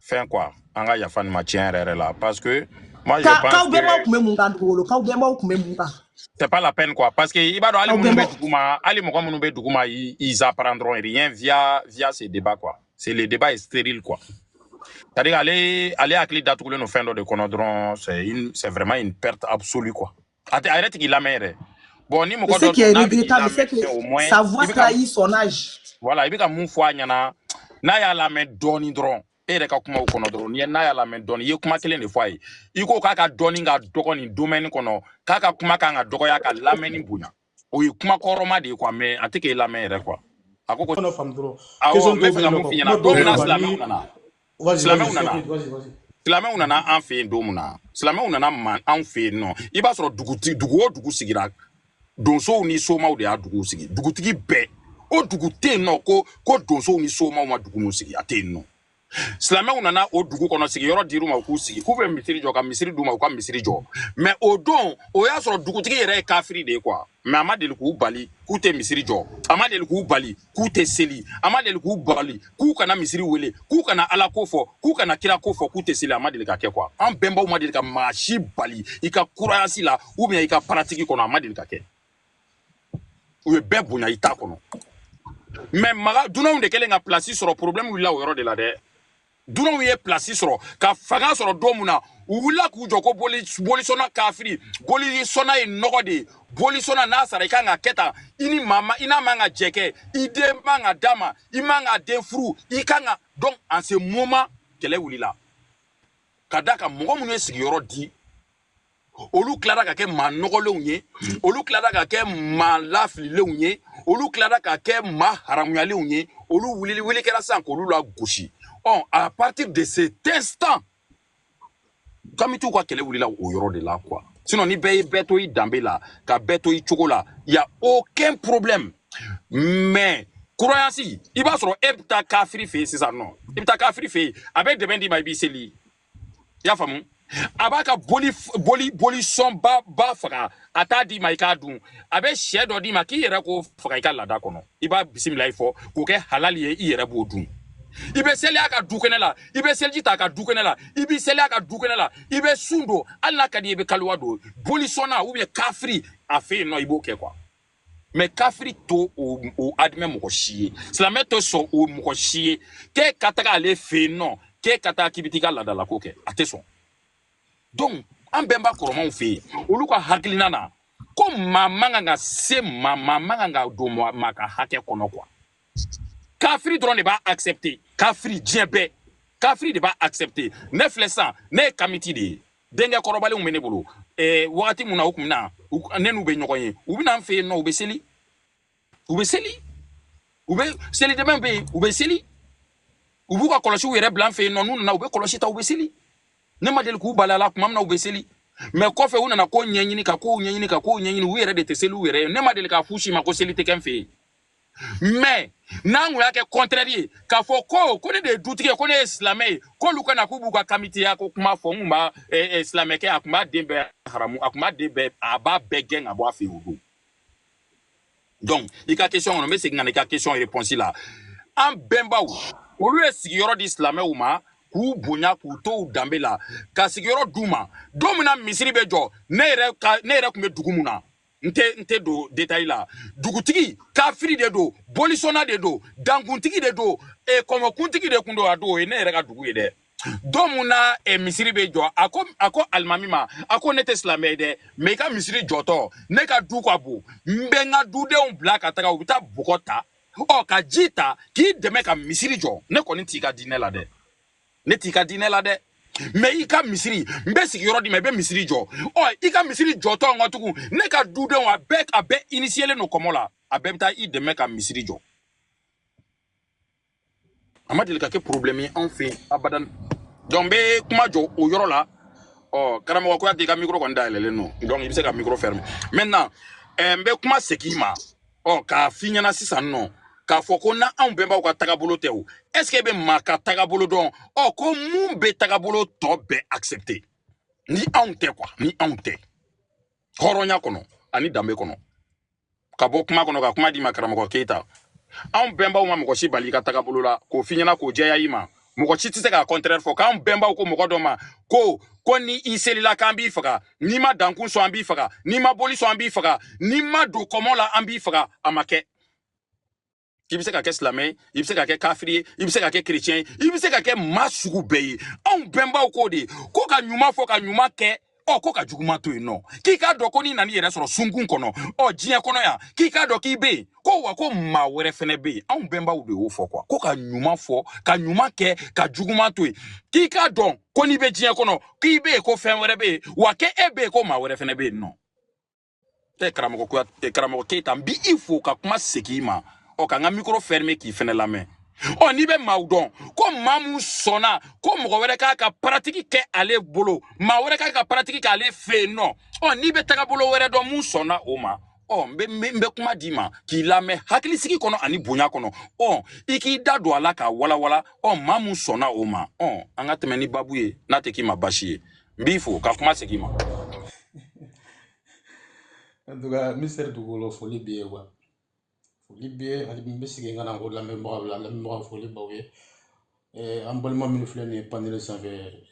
fɛn quoi an ka yafa nin ma tiɲɛ yɛrɛ yɛrɛ la parce que moi je Ka pense k'aw que bɛnbaw tun bɛ mun kan dugukolo k'aw bɛnbaw tun bɛ mun kan c'est pas la peine quoi parce que i b'a dɔn hali k'aw minnu bɛ bɛnbaw duguma hali mɔgɔ minnu bɛ duguma i- ils apprendront rien via via ces débats quoi c'est le débat est stérile quoi c'est à dire ale ale hakili datugulen don fɛn dɔ de kɔnɔ dɔrɔn c'est une c'est vraiment une perte absolue quoi a tɛ a yɛrɛ tigi lamɛn yɛrɛ bon ni mɔgɔ ce qui est regrettable c'est que sa voix trahit son âge voilà i bɛ ka mun fɔ a ɲɛna n'a y'a lamɛn dɔɔni dɔrɔn e yɛrɛ ka kumaw kɔnɔ dɔrɔn ni n'a y'a lamɛn dɔɔni i ye kuma kelen de fɔ a ye i ko k'a ka dɔnni ka dɔgɔ nin domaine kɔnɔ k'a ka kuma kan ka dɔgɔya ka lamɛnni bonya o ye kuma kɔrɔma de ye quoi mais a tɛ k'e lamɛn yɛrɛ quoi a ko ko Fana faamu dɔrɔn awɔ question n bɛ dɔw fɛ bɛ ka yen nɔ mun ka f'i ɲɛna kuma dɔw don bɛ min yen na nɔ ani silamɛw nana vas-y vas-y silamɛw je t'en nana prie vas-y vas-y silamɛw nana an fɛ yen don min na silamɛw nana man anw fɛ yen nɔ i b'a sɔrɔ duguti dugu o dugu sigira donsow ni somaw de y'a dugu sigi dugutigi bɛɛ o dugu tɛ yen nɔ ko ko donsow ni somaw ma dugu min sigi a tɛ yen nɔ silamɛw nana o dugu kɔnɔ sigiyɔrɔ dir'u ma u k'u sigi k'u bɛ misiri jɔ ka misiri d'u ma u ka misiri jɔ mais o don o y'a sɔrɔ dugutigi yɛrɛ ye kafiri de ye quoi mais a ma deli k'u bali k'u tɛ misiri jɔ a ma deli k'u bali k'u tɛ seli a ma deli k'u bali k'u kana misiri wele k'u kana ala ko fɔ k'u kana kira ko fɔ k'u tɛ seli a ma deli ka kɛ quoi an bɛnbaw ma deli ka maa si bali i ka croyance la ou bien i ka pratique kɔnɔ a ma deli ka kɛ u ye bɛɛ bonya i ta kɔnɔ mais maga dunanw de kɛlen ka pilasi sɔrɔ problɛmu wulila o yɔrɔ de la dɛ dunanw ye pilasi sɔrɔ ka fanga sɔrɔ don min na u wulila k'u jɔ ko bolisɔnna kafiri bolisɔnna ye nɔgɔ de ye bolisɔnna n'a sara i kan ka kɛ tan i ni maa ma i n'a man ka jɛ kɛ i den man ka d'a ma i man k'a den furu i kan ka donc en ce moment kɛlɛ wulila ka da ka mɔgɔ minnu ye sigiyɔrɔ di olu tilara ka kɛ maa nɔgɔlenw ye olu tilara ka kɛ maa lafililenw ye olu tilara ka kɛ maa haramuyalenw ye olu wulili wuli kɛra sisan k'olu lagosi ɔ à partir de ce instant kamitiw ka kɛlɛ wulila o yɔrɔ de la quoi sinon ni bɛɛ ye bɛɛ to i danbe la ka bɛɛ to i cogo la y a aucun problème mais croyance i b'a sɔrɔ e bɛ taa kafiri fɛ yen sisan nɔ i bɛ taa kafiri fɛ yen a bɛ dɛbɛn d'i ma i b'i seli i y'a faamu a b'a ka boli boli sɔn ba faga a t'a d'i ma i k'a dun a bɛ shɛ dɔ d'i ma k'i yɛrɛ k'o faga i ka laada kɔnɔ i b'a bisimilayi fɔ k'o kɛ halali ye i yɛrɛ b'o dun i bɛ seli a ka dukɛnɛ la i bɛ seliji t'a ka dukɛnɛ la i b'i seli a ka dukɛnɛ la i bɛ sun don hali n'a ka di i bɛ kaluwa don bolisɔnna ou bien kafiri a fɛ yen nɔ i b'o kɛ quoi mais kafiri t'o o admet mɔgɔ si ye silamɛ tɛ sɔn o mɔgɔ si ye k'e ka taga ale fɛ yen nɔ k'e ka taa k'i bɛ t'i ka laadalako kɛ a tɛ sɔn donc an bɛnba kɔrɔmanw fɛ yen olu ka hakilina na ko maa man kan ka se maa man kan ka don maa ka hakɛ kɔnɔ quoi kafiri dɔrɔn de b'a accepter kafiri diɲɛ bɛɛ kafiri de b'a accepter ne filɛ sisan ne ye kamiti de ye denkɛ kɔrɔbalenw bɛ ne bolo eh, wagati mun na u tun bɛ na ne n'u bɛ ɲɔgɔn ye u bɛ na n fɛ yen nɔ u bɛ seli u bɛ seli u bɛ seli dɛbɛn bɛ yen u bɛ seli u b'u ka kɔlɔsiw yɛrɛ bila n fɛ yen nɔ n'u nana u bɛ kɔlɔsi ta u bɛ seli ne ma deli k'u bali a la tuma min na u bɛ seli mais kɔfɛ u nana ko ɲɛɲini ka kow ɲɛɲini ka kow ɲɛɲini u yɛrɛ de tɛ seli u yɛrɛ ye ne ma deli k'a f'u si ma ko seli tɛ kɛ n fɛ yen mais n'an kun y'a kɛ contraire ye k'a fɔ ko ko ne de ye dutigi ye ko ne ye silamɛ ye k'olu ka na k'u b'u ka kamitiya ko kuma fɔ n kun b'a silamɛkɛ a kun b'a den bɛɛ haramu a kun b'a den bɛɛ a b'a bɛɛ gɛn ka bɔ a fɛ yen o don donc i ka question kɔnɔ n bɛ segin ka na i ka question réponse la an bɛnbaw olu ye sigiyɔrɔ di silamɛw ma k'u bonya k'u to u danbe la ka sigiyɔrɔ d'u ma don min na misiri bɛ jɔ ne yɛrɛ ka ne yɛrɛ tun bɛ dugu mun na n tɛ n tɛ don détail la dugutigi kafiri de don bolisɔnna de don dankuntigi de don e eh, kɔmɔkuntigi de kun don a don o ye ne yɛrɛ ka dugu ye dɛ don mun na e, misiri bɛ jɔ a ko a ko alimami ma a ko ne tɛ silamɛ ye dɛ mais i ka misiri jɔtɔ ne ka du ka bon n bɛ n ka dudenw bila ka taga u bɛ taa bɔgɔ ta ɔ ka ji ta k'i dɛmɛ ka misiri jɔ ne kɔni t'i ka diinɛ la dɛ ne t'i ka diinɛ la dɛ mais i ka misiri n bɛ sigiyɔrɔ d'i ma i bɛ misiri jɔ ɔ i ka misiri jɔtɔ n ka tugun ne ka dudenw a bɛɛ a bɛɛ inisiyelen don kɔmɔ la a bɛɛ bɛ taa i dɛmɛ ka misiri jɔ a ma deli ka kɛ porobilɛmu ye anw fɛ yen abadan donc n bɛ kuma jɔ o yɔrɔ la ɔ karamɔgɔ kuyate i ka mikoro kɔni dayɛlɛlen don donc i bɛ se ka mikoro fermer maintenant ɛɛ n bɛ kuma segin i ma ɔ k'a f'i ɲɛna sisan nɔ k'a fɔ ko na anw bɛnbaw ka tagabolo tɛ o est ce que e bɛ maa ka tagabolo dɔn ɔ ko mun bɛ tagabolo tɔ bɛɛ accepter ni anw tɛ quoi ni anw tɛ hɔrɔnya kɔnɔ ani danbe kɔnɔ ka bɔ kuma kɔnɔ ka kuma d'i ma karamɔgɔ keyita anw bɛnbaw ma mɔgɔ si bali i ka tagabolo la k'o f'i ɲɛna k'o jɛya i ma mɔgɔ si tɛ se k'a contraire fɔ k'anw bɛnbaw ko mɔgɔ dɔ ma ko ko ni i selila k'an b'i faga n'i ma dankun sɔn an b'i faga n'i ma boli sɔn an b'i faga n'i ma don kɔmɔ la an b'i faga a ma kɛ i bɛ se ka kɛ silamɛ ye i bɛ se ka kɛ kafiri ye i bɛ se ka kɛ kerecɛn ye i bɛ se ka kɛ maa sugu bɛɛ ye anw bɛnbaw k'o de ko ka ɲuman fɔ ka ɲuman kɛ ɔ ko ka juguman to yen nɔ k'i k'a dɔn ko n'i nan'i yɛrɛ sɔrɔ sunkun kɔnɔ ɔ diɲɛ kɔnɔ yan k'i k'a dɔn k'i bɛ yen ko wa ko maa wɛrɛ fɛnɛ bɛ yen anw bɛnbaw de y'o fɔ quoi ko ka ɲuman fɔ ka ɲuman kɛ ka juguman to yen k'i k'a dɔn ko n'i bɛ diɲɛ kɔnɔ k'i bɛ yen ko fɛn wɛrɛ bɛ yen wa k'e bɛ yen ko maa wɛrɛ fɛnɛ bɛ yen nɔ e karamɔgɔ kuya e karamɔgɔ keyita n b'i fo ka kuma segin i ma ɔ ka n ka mikoro fermer k'i fɛnɛ lamɛn ɔ n'i bɛ maaw dɔn ko maa min sɔnna ko mɔgɔ wɛrɛ k'a ka paratiki kɛ ale bolo maa wɛrɛ k'a ka paratiki kɛ ale fɛ yen nɔ ɔ n'i bɛ tagabolo wɛrɛ dɔn mun sɔnna o ma ɔ n bɛ n bɛ kuma d'i ma k'i lamɛn hakilisigi kɔnɔ ani bonya kɔnɔ ɔ i k'i da don a la k'a walawala ɔ maa min sɔnna o ma ɔ an ka tɛmɛ ni babu ye n'a tɛ k'i ma baasi ye n b'i fo ka kuma segin n ma en tout cas monsieur dugukolo foli b'i ye wa foli b'i ye hali n bɛ segin ka na ko lamɛnbagaw la lamɛnbagaw foli b'aw ye Eh, an balima minnu filɛ nin ye paneli sanfɛ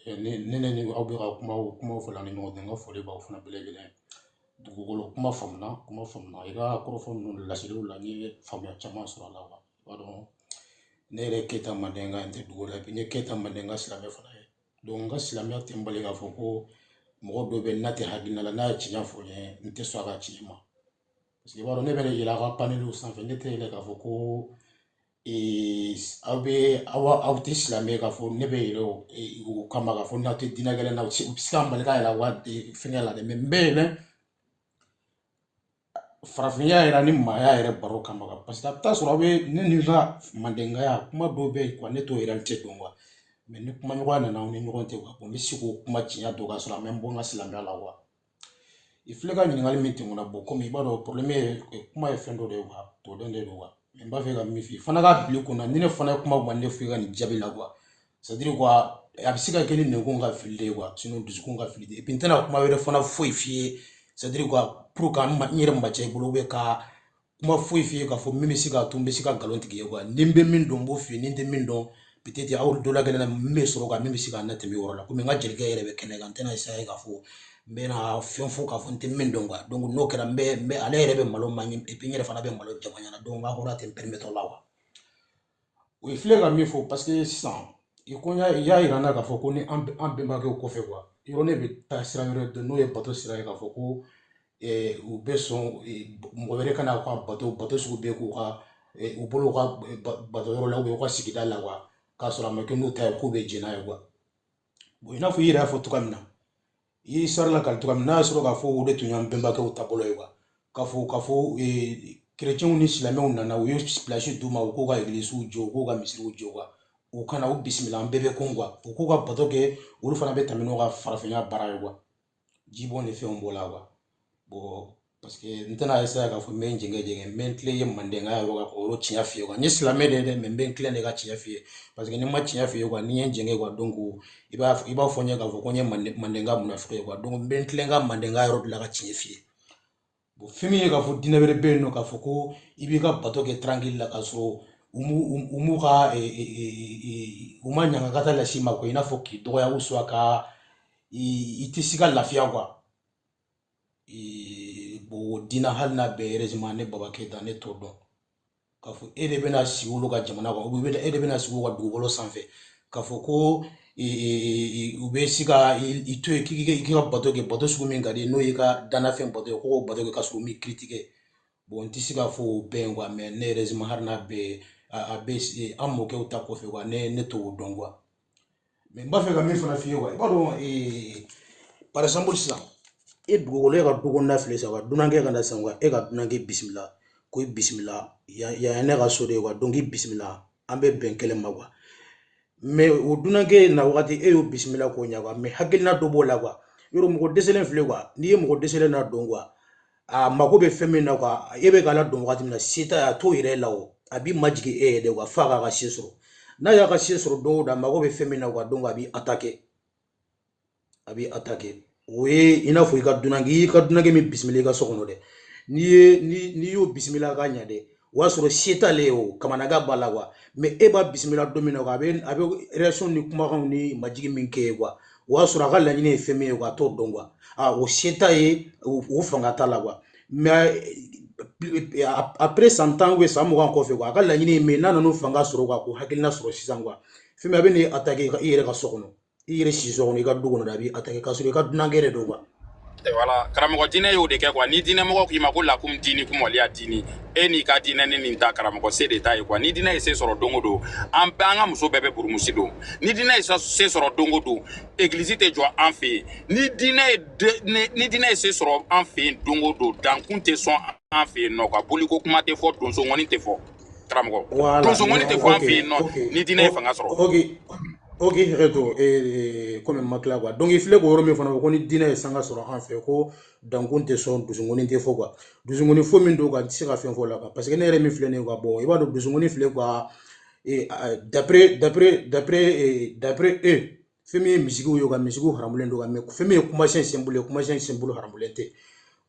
eh, ne ne ne ni aw bɛ ka kuma o kumaw fɔ la ni ɲɔgɔn cɛ n ka foli b'aw fana bɛɛ lajɛlen dugukolo kuma faamuna kuma faamuna i ka kɔrɔfɔ ninnu laseliw la n ye faamuya caman sɔrɔ a la wa i b'a dɔn ne yɛrɛ ye keyita mandenka n tɛ dugu la bi n ye keyita mandenka silamɛ fana ye donc n ka silamɛya tɛ n bali k'a fɔ ko mɔgɔ dɔ bɛ n'a tɛ hakilina la n'a ye tiɲɛ fɔ n ye n tɛ sɔn a ka tiɲɛ ma parce que i b'a dɔn ne bɛ ne yɛlɛ aw ka paneliw sanfɛ ne tɛ yɛlɛ k'a fɔ ko ee, aw bɛ aw aw tɛ silamɛ k'a fɔ ne bɛ yɛlɛ o ee, o kama k'a fɔ n'aw tɛ diinɛ kelen na u tɛ se u tɛ se ka n bali ka yɛlɛ aw ka ee, fɛngɛ la dɛ mais n bɛ yɛlɛ farafinya yɛrɛ ni maaya yɛrɛ baro kama ka parce que a bɛ taa sɔrɔ aw bɛ ne ni ka mandenkaya kuma dɔw bɛ yen quoi ne t'o réalité dɔn quoi mais ni kumaɲɔgɔnya nana aw ni ɲɔgɔn cɛ quoi n bɛ se k'o kuma tiɲɛ dɔn k'a sɔrɔ a ma n bɔ n ka silamɛya la quoi i filɛ ka ɲininkali min tɛmɛna bon komi i b'a dɔn porobilɛmu ye kuma ye fɛn dɔ de ye quoi tɔdɛn de don quoi mais n b'a fɛ ka min f'i ye fana ka bil'i kunna ni ne fana ye kuma ma ne f'i ka nin jaabi la quoi sadiri kuwa a bɛ se ka kɛ ni nɛnkun ka fili de ye kuwa sinɔn dusukun ka fili tɛ epi n tɛna kuma wɛrɛ fana foyi f'i ye sadiri kuwa pour que n yɛrɛ ma cɛ i bolo bɛ ka kuma foyi f'i ye k'a fɔ min bɛ se k'a to n bɛ se ka nkalon tigɛ ye kuwa ni n bɛ min dɔn n b'o f'i ye ni n tɛ min dɔn peut-être aw dɔ la gɛlɛn na min bɛ sɔrɔ ka min bɛ se ka na tɛmɛ yɔrɔ la komi n ka jelikɛ yɛrɛ bɛ kɛnɛ kan n tɛna esaya k'a fɔ n bɛna fɛn fɔ k'a fɔ n tɛ min dɔn kuwa n'o kɛra n bɛ ale yɛrɛ bɛ malo man ɲi n yɛrɛ fana bɛ malo jama ɲɛna donc n ka hɔrɔnya tɛ n permettre o la kuwa o ye filɛ ka min fɔ parce que sisan i ko y'a y'a yira n na k'a fɔ ko ni an b- an bɛnbakɛw kɔfɛ kuwa yɔrɔ ne bɛ taa sira wɛrɛ dɔn n'o ye bato sira ye k'a fɔ ko eh, u bɛ sɔn eh, b- mɔgɔ wɛrɛ ka na u ka bato bato sugu bɛɛ k'u ka eh, u bolo u ka eh, ba- bato yɔrɔ la ubiyɛn u ka sigida la kuwa k'a sɔrɔ a ma kɛ n'u ta ye k'u bɛ jɛn n'a ye kuwa bon i n'a fɔ i yɛrɛ y'a fɔ cogoya min na i ye sari lakali cogoya min n'a y'a sɔrɔ k'a fɔ o de tun y'an bɛnbakɛw taabolo ye kuwa k'a fɔ k'a fɔ kerecɛnw ni silamɛw nana u ye pilasi d'u ma u k'u ka egilisiw jɔ u k'u ka misiriw jɔ kuwa u ka na u bisimila an bɛɛ bɛ kun kuwa u k'u ka bato kɛ olu fana bɛ tɛmɛ n'u ka farafinya baara ye kuwa jibɔn ni fɛnw b'o la kuwa bon paseke n tɛna esaya k'a fɔ n bɛ n jɛngɛ jɛngɛ n bɛ n tilen ye mandenkaya yɔrɔ kan k'o yɔrɔ tiɲɛ f'i ye n ye silamɛ de ye dɛ mɛ n bɛ n tilen de ka tiɲɛ f'i ye paseke ni n ma tiɲɛ f'i ye kuwa ni n ye n jɛngɛ kuwa donc ko i b'a i b'a fɔ n ye k'a fɔ ko n ye manden mandenka munafiki ye kuwa donc n bɛ n tilen ka mandenkaya yɔrɔ bila ka tiɲɛ f'i ye bon fɛn min ye k'a fɔ diinɛ wɛrɛ bɛ yen nɔ k'a fɔ ko i b'i ka bato kɛ tarankili la k'a sɔrɔ u m'u u m'u ka u ma ɲangakata las'i ma kuwa i n'a fɔ k'i dɔgɔya ou soit ka i i tɛ se ka lafiya kuwa bon diina hali n'a bɛ erezima ne baba keyita ne t'o dɔn k'a fɔ e de bɛna sigi olu ka jamana kan ubiyɛn e de bɛna sigi u ka dugukolo sanfɛ k'a fɔ ko u bɛ se ka i to yen k'i ka bato kɛ bato sugu min ka di n'o y'i ka danafɛn bato ye k'o bato kɛ k'a sɔrɔ u m'i kiritike bon n tɛ se k'a fɔ o bɛɛ ye kuwa mɛ ne erezima hali n'a bɛ a bɛ an mɔkɛw ta kɔfɛ kuwa ne ne t'o dɔn kuwa mɛ n b'a fɛ ka min fana f'i ye kuwa i b'a dɔn eh, par exemple sisan e dugukolo e ka dukɔnɔna filɛ sa kuwa dunankɛ ka na sisan kuwa e ka dunankɛ bisimila ko i bisimila yan ye ne ka so de ye kuwa donc i bisimila an bɛ bɛn kelen ma kuwa mɛ o dunankɛ na wagati e y'o bisimila k'o ɲɛ kuwa mɛ hakilina dɔ b'o la kuwa yɔrɔ mɔgɔ dɛsɛlen filɛ kuwa n'i ye mɔgɔ dɛsɛlen na dɔn kuwa a mako bɛ fɛn min na kuwa e bɛ k'a ladon wagati min na se t'a ye a t'o yira i la o a b'i majigin e ye de kuwa f'a k'a ka se sɔrɔ n'a y'a ka se sɔrɔ don o don a mako bɛ fɛn min na kuwa donc a b'i atake a b'i atake o ye i n'a fɔ i ka dunan i ka dunankɛ min bisimila i ka so kɔnɔ dɛ n'i ye n'i y'o bisimila ka ɲɛ dɛ o y'a sɔrɔ se t'ale ye o kamanagan b'a la quoi mais e b'a bisimila don min na quoi a bɛ réaction ni kumakanw ni majigin min k'e ye quoi o y'a sɔrɔ a ka laɲini ye fɛn min ye quoi a t'o dɔn quoi a o se t'a ye o fanga t'a la quoi mais après san tan ou bien san mugan kɔfɛ quoi a ka laɲini ye min ye n'a nan'o fanga sɔrɔ quoi k'o hakilina sɔrɔ sisan quoi fɛn min a bɛ n'i attaquer i yɛrɛ ka so kɔnɔ i yɛrɛ siso kɔnɔ i ka du kɔnɔ a b'i attaquer k'a sɔrɔ i ka dunankɛ yɛrɛ don quoi voilà karamɔgɔ diinɛ y'o de kɛ quoi ni diinɛ mɔgɔ k'i ma ko lakum diinikum waliya diini e n'i ka diinɛ ni nin ta karamɔgɔ se de t'a ye quoi ni diinɛ ye se sɔrɔ don o don an bɛɛ an ka muso bɛɛ bɛ burumusi don ni diinɛ ye se sɔrɔ don o don egilisi tɛ jɔ an fɛ yen ni diinɛ ni diinɛ ye se sɔrɔ an fɛ yen don o don dankun tɛ sɔn an fɛ yen nɔ quoi boliko kuma tɛ fɔ donso ŋɔni tɛ fɔ karamɔgɔ donso ŋɔni tɛ fɔ an fɛ yen nɔ ni diinɛ ye fanga sɔrɔ ok hakɛ to komi n ma tila quoi donc i filɛ k'o yɔrɔ min fana fɔ ko ni diinɛ ye sanga sɔrɔ an fɛ ko dankun tɛ sɔn donso ŋɔni tɛ fɔ quoi donso ŋɔni fɔ min don quoi n tɛ se ka fɛn fɔ o la parce que ne yɛrɛ min filɛ nin ye quoi bon i b'a dɔn donso ŋɔni filɛ quoi d'après d'après d'après d'après e fɛn min ye musique ye quoi musique haramulen don quoi mais fɛn min ye kumasen simple ye kumasen simple haramulen tɛ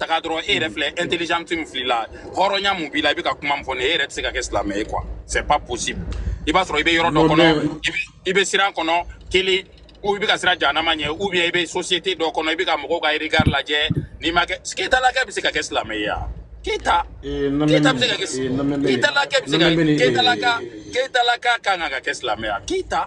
taga dɔrɔn e yɛrɛ filɛ intelligence min fil'i la hɔrɔnya min b'i la i bɛ ka kuma min fɔ nin ye e yɛrɛ tɛ se ka kɛ silamɛ ye quoi c'est pas possible i b'a sɔrɔ i bɛ yɔrɔ dɔ kɔnɔ i bɛ siran kɔnɔ kelen ou i bɛ ka siran jahanama ɲɛ ou bien i bɛ société dɔ kɔnɔ i bɛ ka mɔgɔw ka regard lajɛ n'i ma kɛ keyita lakɛ bɛ se ka kɛ silamɛ ye wa keyita keyita bɛ se ka kɛ keyita lakɛ bɛ se ka keyita laka keyita laka kan ka kɛ silamɛ ye wa keyita.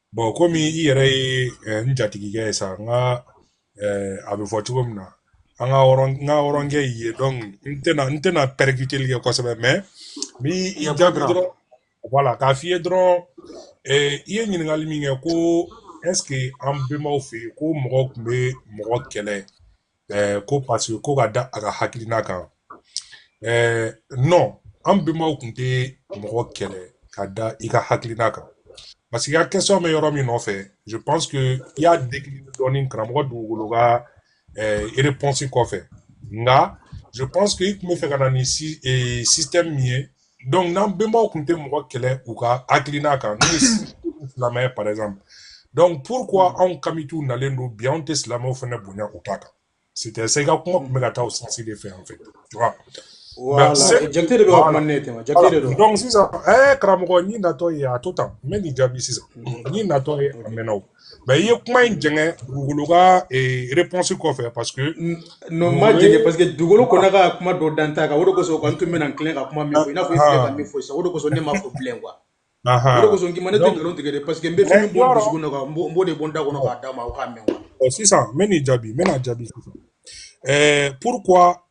bon komi i yɛrɛ ye eh, n jatigikɛ ye sa n ka eh, a bɛ fɔ cogo min na an ka hɔrɔn n ka hɔrɔnkɛ y'i ye donc n tɛna n tɛna percuteli kɛ kosɛbɛ mais n b'i jaabi dɔrɔn voilà k'a f'i ye dɔrɔn eh, i ye ɲininkali min kɛ ko est ce que an bɛnbaw fɛ yen ko mɔgɔ tun bɛ mɔgɔ kɛlɛ ɛɛ ko parce que ko ka da a ka hakilina kan ɛɛ non an bɛnbaw tun tɛ mɔgɔ kɛlɛ ka da i ka hakilina kan parce que i ka question bɛ yɔrɔ min nɔfɛ je pense que i y'a décliner dɔɔni karamɔgɔ dugukolo ka ɛɛ réponse kɔfɛ nka je pense que i tun bɛ fɛ ka na ni système min ye donc n'an bɛnbaw tun tɛ mɔgɔ kɛlɛ u ka hakilina kan n'o ye silamɛya par exemple donc pourquoi mm. anw kamitiw nalen don bi anw tɛ silamɛw fana bonya u ta kan c'était ça i ka kuma tun bɛ ka taa o sens de fɛ en fait tu vois Voilà. Jate de bɛ ka kuma ne tɛmɛ jate de don donc sisan ɛɛ karamɔgɔ n'i natɔ ye a to tan n bɛ nin jaabi sisan n'i natɔ ye a mɛnna o mais i ye kuma in jɛngɛ dugukolo ka réponse kɔfɛ parce que non n m'a jɛngɛ parce que dugukolo kɔnna ka kuma dɔ da n ta kan o de kosɔn kɔni tun bɛna n tilen ka kuma min fɔ i n'a fɔ i filɛ ka min fɔ sisan o de kosɔn ne m'a fɔ bilen quoi o de kosɔn n k'i ma ne tɛ nkalon tigɛ dɛ parce que n bɛ fɛn min bɔ n dusukun na n b'o de bɔ n da kɔnɔ k'a d'a ma o k'a mɛn quoi sisan n bɛ n'i jaabi n bɛna jaabi sisan pourquoi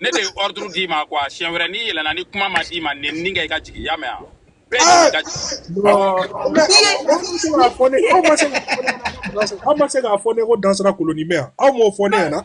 Ne de ye ordre d'i ma quoi siɲɛ wɛrɛ n'i yɛlɛna ni kuma ma d'i ma nin nin ka i ka jigin y'a mɛn yan aw ma se k'a fɔ ne ko Dansira koloni bɛ yan aw m'o fɔ ne yan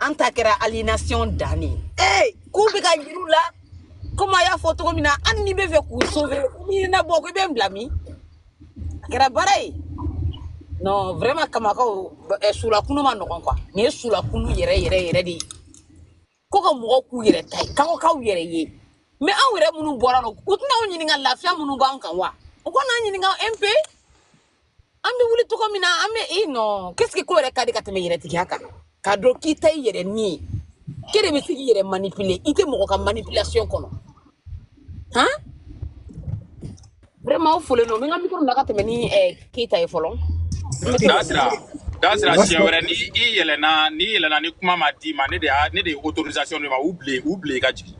an ta kɛra aliénation dan de ye ee k'u bɛ k'a yir'u la komi a y'a fɔ cogo min na hali n'i bɛ fɛ k'u sauver n'i na bɔ ko i bɛ n bila min a kɛra baara ye non vraiment kamakaw eh, sulakunu man nɔgɔn quoi nin ye sulakunu yɛrɛ yɛrɛ yɛrɛ de ye ko ka mɔgɔw k'u yɛrɛ ta ye kanko k'aw yɛrɛ ye mais anw yɛrɛ minnu bɔra nɔ u tɛna anw ɲininka lafiya minnu b'an kan wa u kana an ɲininka un peu an bɛ wuli cogo min na an bɛ i non qu'est-ce que ko yɛrɛ ka di ka tɛmɛ yɛrɛtigiya kan k'a dɔn k'i ta i yɛrɛ ni ye k'e de bɛ se k'i yɛrɛ manipuler i tɛ mɔgɔ ka manipulation kɔnɔ han vraiment aw folen don n bɛ n ka micro bila ka tɛmɛ ni eh, Keyita ye fɔlɔ n bɛ segin Dansira, Dansira siɲɛ wɛrɛ ni i yɛlɛna n'i yɛlɛna ni kuma ma d'i ma ne de y'a ne de ye autorisation d'i ma u bile u bile i ka jigin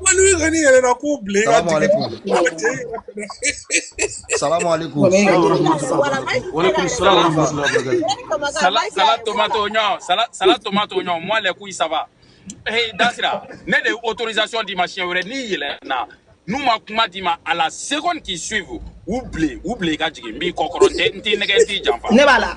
wali ka ni yɛrɛ la k'u bila i ka jigin salamu alaikum salade tomate oignon salade tomate oignon moi les couilles ça va hey Dansira ne de autorisation d'i ma siɲɛ wɛrɛ n'i yɛlɛna n'u ma kuma d'i ma à la seconde qui suivent u bile u bile i ka jigin n b'i kɔkɔrɔ n tɛ n t'i nɛgɛn n t'i janfa ne b'a la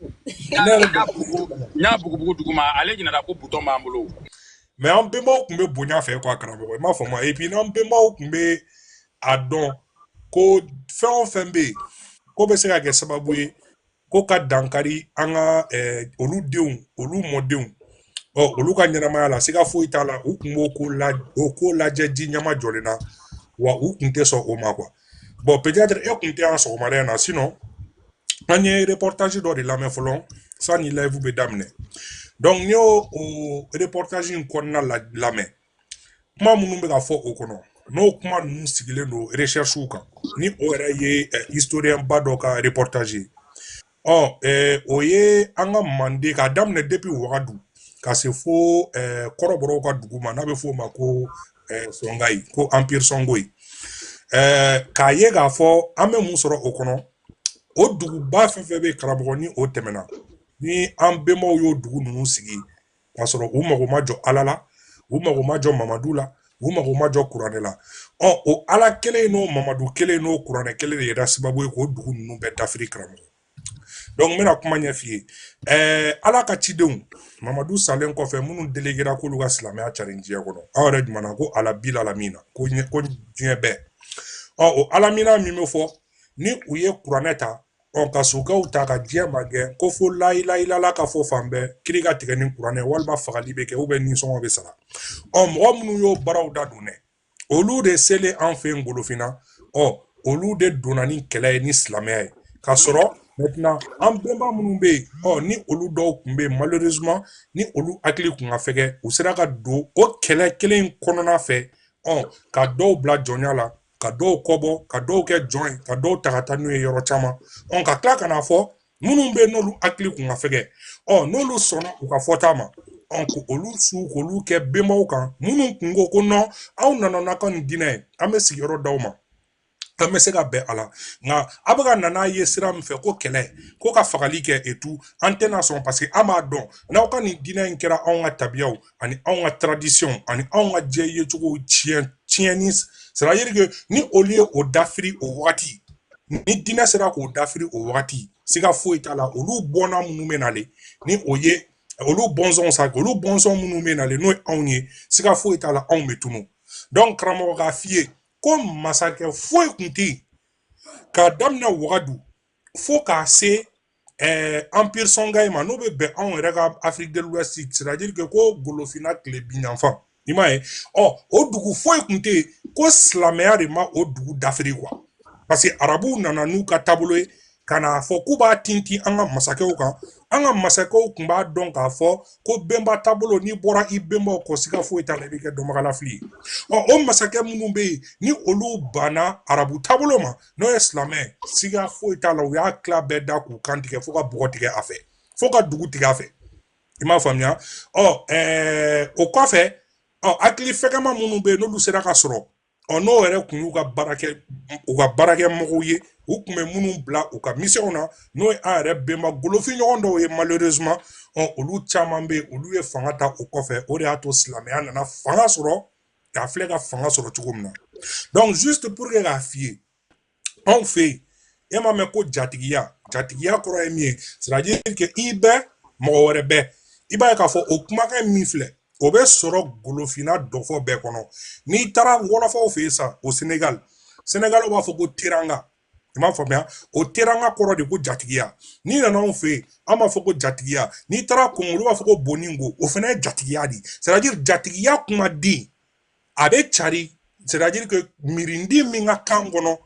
n y'a bugubugu duguma ale ɲinana ko bouton b'an bolo mais an bɛnbaw tun bɛ bonya fɛ quoi karamɔgɔ i m'a fɔ ma et puis n'an bɛnbaw tun bɛ a dɔn ko fɛn o fɛn bɛ yen ko bɛ se ka kɛ sababu ye ko ka dankari an ka eh, olu denw olu mɔdenw ɔ olu ka ɲɛnamaya la siga foyi t'a la u tun b'o ko la o ko lajɛ ji ɲɛmajɔlen na wa u tun tɛ sɔn o ma quoi bon peut-être e kun tɛ yan sɔgɔmada in na sinon an ye reportage dɔ de lamɛn fɔlɔ sani live bɛ daminɛ donc n'i y'o reportage in kɔnɔna lamɛn kuma minnu bɛ ka fɔ o kɔnɔ n'o kuma ninnu sigilen don recherches kan ni o yɛrɛ ye historien ba dɔ ka reportage ye ɔ eh, o ye an ka manden k'a daminɛ depuis wagadu ka se fo eh, kɔrɔbɔrɔw ka dugu ma n'a bɛ f'o ma ko eh, sɔngayi ko empire sɔngoyi eh, k'a ye k'a fɔ an bɛ mun sɔrɔ o kɔnɔ o duguba fɛn fɛn bɛ karamɔgɔ ni o tɛmɛna ni an bɛnbaw y'o dugu ninnu sigi k'a sɔrɔ u mago ma jɔ ala la u mago ma jɔ mamadu la u mago ma jɔ kuranɛ la ɔ o ala kelen n'o mamadu kelen n'o kuranɛ kelen de yɛrɛ sababu ye k'o dugu ninnu bɛɛ dafiri karamɔgɔ donc n bɛna kuma ɲɛf'i ye ɛɛ ala ka cidenw mamadu salen kɔfɛ minnu delegera k'olu ka silamɛya carin diɲɛ kɔnɔ aw yɛrɛ jumana ko rabil alamina ko diɲɛ bɛɛ ɔ o alamina min bɛ fɔ ni u ye kuranɛ ta ɔ ka sokɛw ta ka diɲɛ magɛn ko fo layilayilala ka fɔ fan bɛɛ kiri ka tigɛ ni kuranɛ walima fagali bɛ kɛ ou bien nisɔngɔ bɛ sara ɔ mɔgɔ minnu y'o baaraw dadon dɛ olu de selen an fɛ yen golofinna ɔ olu de donna ni kɛlɛ ye ni silamɛya ye ka sɔrɔ maintenant an bɛnba minnu bɛ yen ɔ ni olu dɔw tun bɛ yen malheureusement ni olu hakili tun ka fɛgɛ u sera ka don o kɛlɛ kelen kɔnɔna fɛ ɔ ka dɔw bila jɔnya la ka dɔw kɔbɔ ka dɔw kɛ jɔn ye ka dɔw ta ka taa n'u ye yɔrɔ caman ɔ ka tila ka n'a fɔ minnu bɛ n'olu hakili kun ka fɛgɛ ɔ n'olu sɔnna u ka fɔta ma ɔ olu su k'olu kɛ bɛnbaw kan minnu kun ko ko non aw nana n'a ka nin diinɛ ye an bɛ sigiyɔrɔ d'aw ma an bɛ se ka bɛn a la nka a bɛ ka na n'a ye sira min fɛ ko kɛlɛ ko ka fagali kɛ et tout an tɛna sɔn parce que an b'a dɔn n'aw ka nin diinɛ in kɛra anw ka tabiyaw ani anw ka tradition ani anw ka diɲɛ yecogo tiɲɛ tiɲɛni c'est à dire que ni olu ye o dafiri o wagati ni diinɛ sera k'o dafiri o wagati siga foyi t'a la olu bɔnna minnu bɛ nale ni o ye olu bɔnsɔnw sa olu bɔnsɔn minnu bɛ nale n'o ye anw ye siga foyi t'a la anw bɛ tunu donc karamɔgɔ k'a f'i ye ko masakɛ foyi tun tɛ yen k'a daminɛ wagadu fo k'a se ɛɛ empire songai ma n'o bɛ bɛn anw yɛrɛ ka afrique de l'ouest c'est à dire que ko golofinna tilebinyanfan i m'a ye ɔ o dugu foyi tun tɛ yen ko silamɛya de ma o dugu dafiri quoi parce que arabuw nana n'u ka taabolo ye ka n'a fɔ k'u b'a tintin an ka masakɛw kan an ka masakɛw tun b'a dɔn k'a fɔ ko bɛnba taabolo n'i bɔra i bɛnbaw kɔ siga foyi t'a la i bɛ kɛ dɔnbagalafili ye ɔ o masakɛ minnu bɛ yen ni olu banna arabu taabolo ma n'o ye silamɛ siga foyi t'a la u y'a tila bɛɛ da k'u kan tigɛ fo ka bɔgɔ tigɛ a fɛ fo ka dugu tigɛ a fɛ i m'a faamuya ɔ ɛɛ o kɔfɛ ɔ hakili fɛgɛma minnu bɛ yen n'olu sera ka sɔrɔ ɔ n'o yɛrɛ kun y'u ka baarakɛ u ka baarakɛmɔgɔw ye u kun bɛ minnu bila u ka misiyɔnw na n'o ye an yɛrɛ bɛnba golofinɲɔgɔn dɔw ye malheureusement ɔ olu caman bɛ yen olu ye fanga ta o kɔfɛ o de y'a to silamɛya nana fanga sɔrɔ k'a filɛ ka fanga sɔrɔ cogo min na donc juste pour que k'a f'i ye anw fɛ yen e m'a mɛn ko jatigiya jatigiya kɔrɔ ye min ye c'est à dire que i bɛ mɔgɔ wɛrɛ bɛ i b'a ye k'a fɔ o kumakan min filɛ o bɛ sɔrɔ golofinna dɔfɔ bɛɛ kɔnɔ n'i taara wɔlɔfɔw fɛ yen sa o senegal senegal b'a fɔ ko teranga i m'a faamuya o teranga kɔrɔ de ko jatigiya n'i nana anw fɛ yen an b'a fɔ ko jatigiya n'i taara Kongo olu b'a fɔ ko boningo o fana ye jatigiya de ye c'est-à-dire jatigiya kumaden a bɛ cari c'est-à-dire que mirindi min ka kan kɔnɔ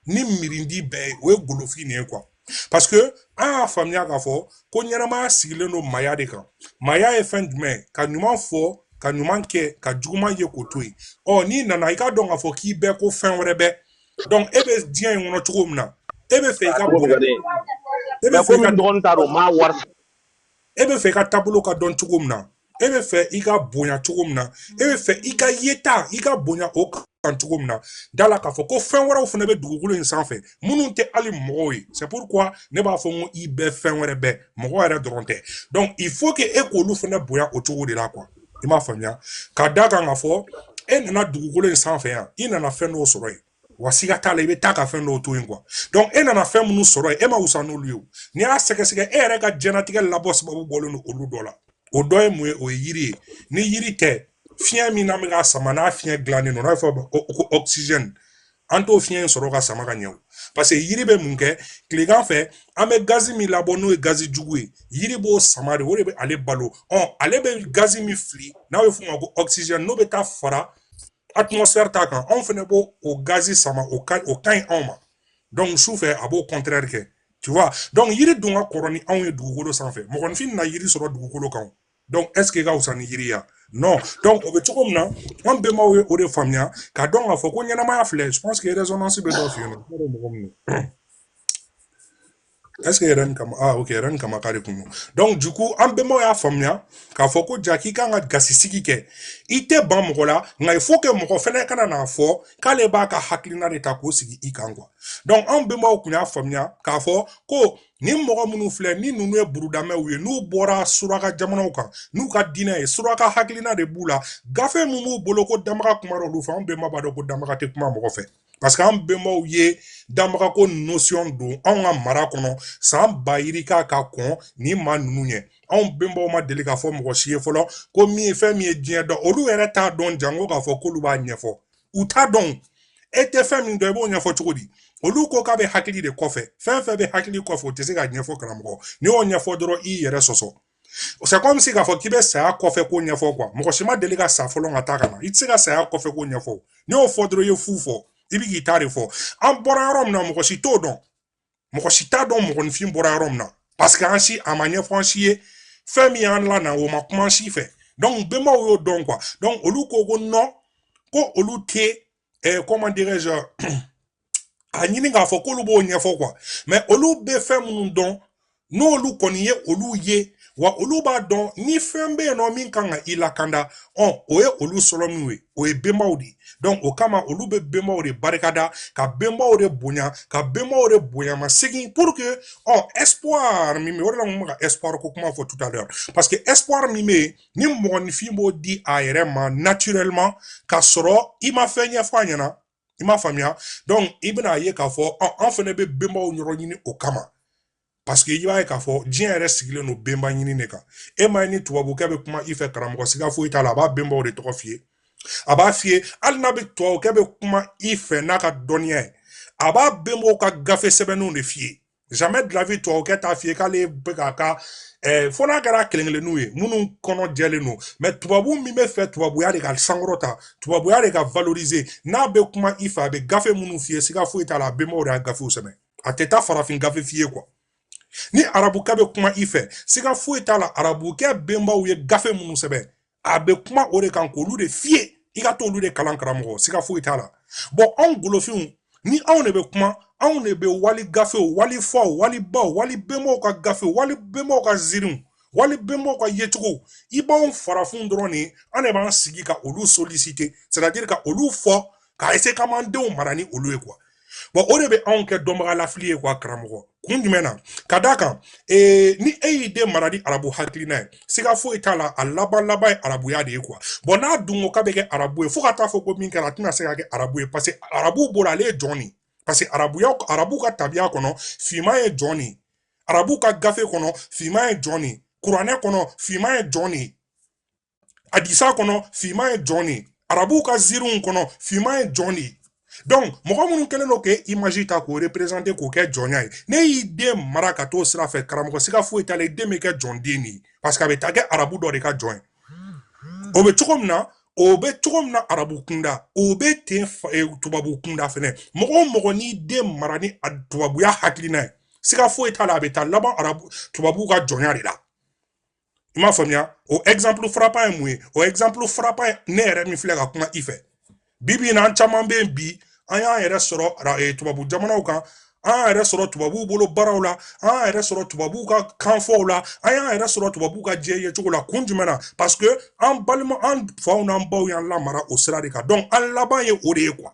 ni mirindi bɛɛ ye o ye golofin de ye quoi parce que an y'a faamuya k'a fɔ ko ɲɛnamaya sigilen don maya de kan maya ye fɛn jumɛn ye ka ɲuman fɔ ka ɲuman kɛ ka juguman ye k'o to yen ɔ n'i nana i k'a dɔn k'a fɔ k'i bɛ ko fɛn wɛrɛ bɛ donc e bɛ diɲɛ in kɔnɔ cogo min na e bɛ fɛ i ka bɔ e bɛ fɛ i ka taabolo ka dɔn cogo min na e bɛ fɛ i ka bonya cogo min na e bɛ fɛ i ka yeta i ka bonya o kan cogo min na da la k'a fɔ ko fɛn wɛrɛw fana bɛ dugukolo in sanfɛ minnu tɛ hali mɔgɔw ye c'est pourquoi ne b'a fɔ n ko i bɛ fɛn wɛrɛ bɛ mɔgɔ yɛrɛ dɔrɔn tɛ donc il faut que e k'olu fana bonya o cogo de la quoi i m'a faamuya ka da kan k'a fɔ e nana dugukolo in sanfɛ yan i nana fɛn dɔw sɔrɔ yen wa siga t'a la i bɛ taa ka fɛn dɔw to yen quoi donc e nana fɛn minnu sɔrɔ yen e ma wusa n'olu ye o n'i y'a sɛgɛsɛgɛ e yɛrɛ ka diɲɛnatigɛ labɔ sababu bɔlen don olu dɔ la o dɔ ye mun ye o ye yiri ye ni yiri tɛ fiɲɛ min n'an bɛ ka sama n'a fiɲɛ dilannen don n'a bɛ fɔ o ma ko oxygène an t'o fiɲɛ in sɔrɔ ka sama ka ɲɛ o parce que yiri bɛ mun kɛ tilegan fɛ an bɛ gazi min labɔ n'o ye gazi jugu ye yiri b'o sama de o de bɛ ale balo ɔ ale bɛ gazi min fili n'a bɛ f'o ma ko oxygène n'o bɛ taa fara atmosphère ta kan anw fana b'o o gazi sama o ka o ka ɲi anw ma donc su fɛ a b'o contraire kɛ tu vois donc yiri dun ka kɔrɔ ni anw ye dugukolo sanfɛ mɔgɔninfin na yiri sɔrɔ dugukolo kan Donc est ce que i ka wusa ni yiri ya non donc o bɛ cogo min na an bɛnbaw ye o de faamuya k'a dɔn k'a fɔ ko ɲɛnamaya filɛ je pense que résonance bɛ dɔ fɛ yen nɔ ne yɛrɛ mɔgɔ min don est ce que yɛrɛ ni kama ah ok yɛrɛ ni kama k'a de kun don donc du coup an bɛnbaw y'a faamuya k'a fɔ ko ja k'i kan ka gasi sigi kɛ i tɛ ban mɔgɔ la nka il faut que mɔgɔ fɛnɛ kana n'a fɔ k'ale b'a ka hakilina de ta k'o sigi i kan quoi donc an bɛnbaw kun y'a faamuya k'a fɔ ko nin mɔgɔ minnu filɛ nin ninnu ye burudamɛw ye n'u bɔra suraka jamanaw kan n'u ka diina ye suraka hakilina de b'u la gafe min b'u bolo ko danbaga kumara olu fɛ an bɛnba b'a dɔn ko danbaga tɛ kuma mɔgɔ fɛ parce que an bɛnbaw ye danbagako notion don anw ka mara kɔnɔ san ba yirika ka kɔn nin maa ninnu ɲɛ anw bɛnbaw ma deli k'a fɔ mɔgɔ si ye fɔlɔ ko min ye fɛn min ye diɲɛ dan olu yɛrɛ t'a dɔn janko k'a fɔ k'olu b'a ɲɛfɔ u t'a dɔn e tɛ fɛn min dɔn i b'o ɲɛfɔ cogo di olu ko k'a bɛ hakili de kɔfɛ fɛn fɛn bɛ hakili kɔfɛ o tɛ se ka ɲɛfɔ karamɔgɔ n'i y'o ɲɛfɔ dɔrɔn i yɛrɛ sɔsɔ c'est comme si k'a fɔ k'i bɛ saya kɔfɛ ko ɲɛfɔ quoi mɔgɔ si ma deli ka sa fɔlɔ ka taa ka na i tɛ se ka saya kɔfɛ ko ɲɛfɔ n'i y'o fɔ dɔrɔn i ye fu fɔ i bɛ k'i ta de fɔ an bɔra yɔrɔ min na mɔgɔ si t'o dɔn mɔgɔ si t'a dɔn mɔgɔninfin bɔra yɔrɔ min na parce que an si a ma ɲɛfɔ an si ye fɛn min y'an lana o ma kuma an si fɛ donc bɛnbaw y'o dɔn quoi donc olu ko ko non ko olu tɛ eh, comment dirais-je a ɲini k'a fɔ k'olu b'o ɲɛfɔ quoi mais olu bɛ fɛn minnu dɔn n'olu kɔni ye olu ye wa olu b'a dɔn ni fɛn bɛ yen nɔ min kan ka i lakanda ɔ o ye olu sɔrɔ min ye o ye bɛnbaw de ye donc o kama olu bɛ bɛnbaw de barikada ka bɛnbaw de bonya ka bɛnbaw de bonya masegin pour que ɔ espoir min bɛ o de la n bɛ ka espoir ko kuma fɔ tout à l'heure parce que espoir min bɛ yen ni mɔgɔninfin b'o di a yɛrɛ ma naturellement ka sɔrɔ i ma fɛn ɲɛfɔ a ɲɛna i m'a faamuya donc i bɛna a ye k'a fɔ an fana bɛ bɛnbaw yɔrɔ ɲini o kama parce que i b'a ye k'a fɔ diɲɛ yɛrɛ sigilen don bɛnba ɲini de kan e m'a ye ni tubabukɛ bɛ kuma i fɛ karamɔgɔ siga foyi t'a la a b'a bɛnbaw de tɔgɔ f'i ye a b'a f'i ye hali n'a bɛ tubabukɛ bɛ kuma i fɛ n'a ka dɔnniya ye a b'a bɛnbaw ka gafe sɛbɛnnenw de f'i ye jamais de la vie tubabukɛ t'a f'i ye k'ale bɛ k'a ka ɛɛ fo n'a kɛra kelen kelenninw ye minnu kɔnɔ jɛlen don mais tubabu min b'a fɛ tubabuya de ka sankɔrɔta tubabuya de ka valoriser n'a bɛ kuma i fɛ a bɛ gafe minnu f'i ye siga foyi t'a la a bɛnbaw de y'a gafew sɛbɛn a tɛ taa farafin gafe f'i ye quoi ni arabukɛ bɛ kuma i fɛ siga foyi t'a la arabukɛ bɛnbaw ye gafe minnu sɛbɛn a bɛ kuma o de kan k'olu de f'i ye i ka t'olu de kalan karamɔgɔ siga foyi t'a la bon anw golofinw ni anw de bɛ kuma anw de bɛ wali gafew wali faw wali baw wali bɛnbaw ka gafew wali bɛnbaw ka zirinw wali bɛnbaw ka yecogow i b'anw farafinw dɔrɔn de an de b'an sigi ka olu solliciter c'est à dire ka olu fɔ ka essayer k'an b'an denw mara ni olu ye quoi bon o de bɛ anw kɛ dɔnbaga lafili ye quoi karamɔgɔ kun jumɛn na ka d'a kan ee, ni e y'i den mara ni arabu hakilina ye siga foyi t'a la a laban laban ye arabuya de ye quoi bon n'a dun ko k'a bɛ kɛ arabu ye fo ka taa fɔ ko min kɛra a tɛna se ka kɛ arabu ye parce que arabuw bolo ale ye jɔn de ye parce que arabuya arabu ka tabiya kɔnɔ finman ye jɔn de ye arabu ka gafe kɔnɔ finman ye jɔn de ye kuranɛ kɔnɔ finman ye jɔn de ye hadisa kɔnɔ finman ye jɔn de ye arabuw ka ziiriw kɔnɔ finman ye jɔn de ye donc mɔgɔ minnu kɛlen don k'e image ta k'o représente k'o kɛ jɔnya ye n'e y'i den mara ka t'o sira fɛ karamɔgɔ siga foyi t'a la i den bɛ kɛ jɔn den de ye parce que a bɛ taa kɛ arabu dɔ de ka jɔn ye o bɛ cogo min na o bɛ cogo min na arabu kunda o bɛ ten e, tubabu kunda fɛnɛ mɔgɔ o mɔgɔ n'i den mara ni tubabuya hakilina ye siga foyi t'a la a bɛ taa laban arabu tubabuw ka jɔnya de la i m'a faamuya o exemple frappant ye mun ye o exemple frappant ye ne yɛrɛ min filɛ ka kuma i fɛ bi bi in na an caman bɛ yen bi an y'an yɛrɛ sɔrɔ eh, tubabu jamanaw kan an y'an yɛrɛ sɔrɔ tubabuw bolo baaraw la an y'an yɛrɛ sɔrɔ tubabuw ka kanfɔw la an y'an yɛrɛ sɔrɔ tubabuw ka diɲɛ ye cogo la kun jumɛn na parce que an balima an faw n'an baw y'an lamara o sira de kan donc an laban ye o de ye quoi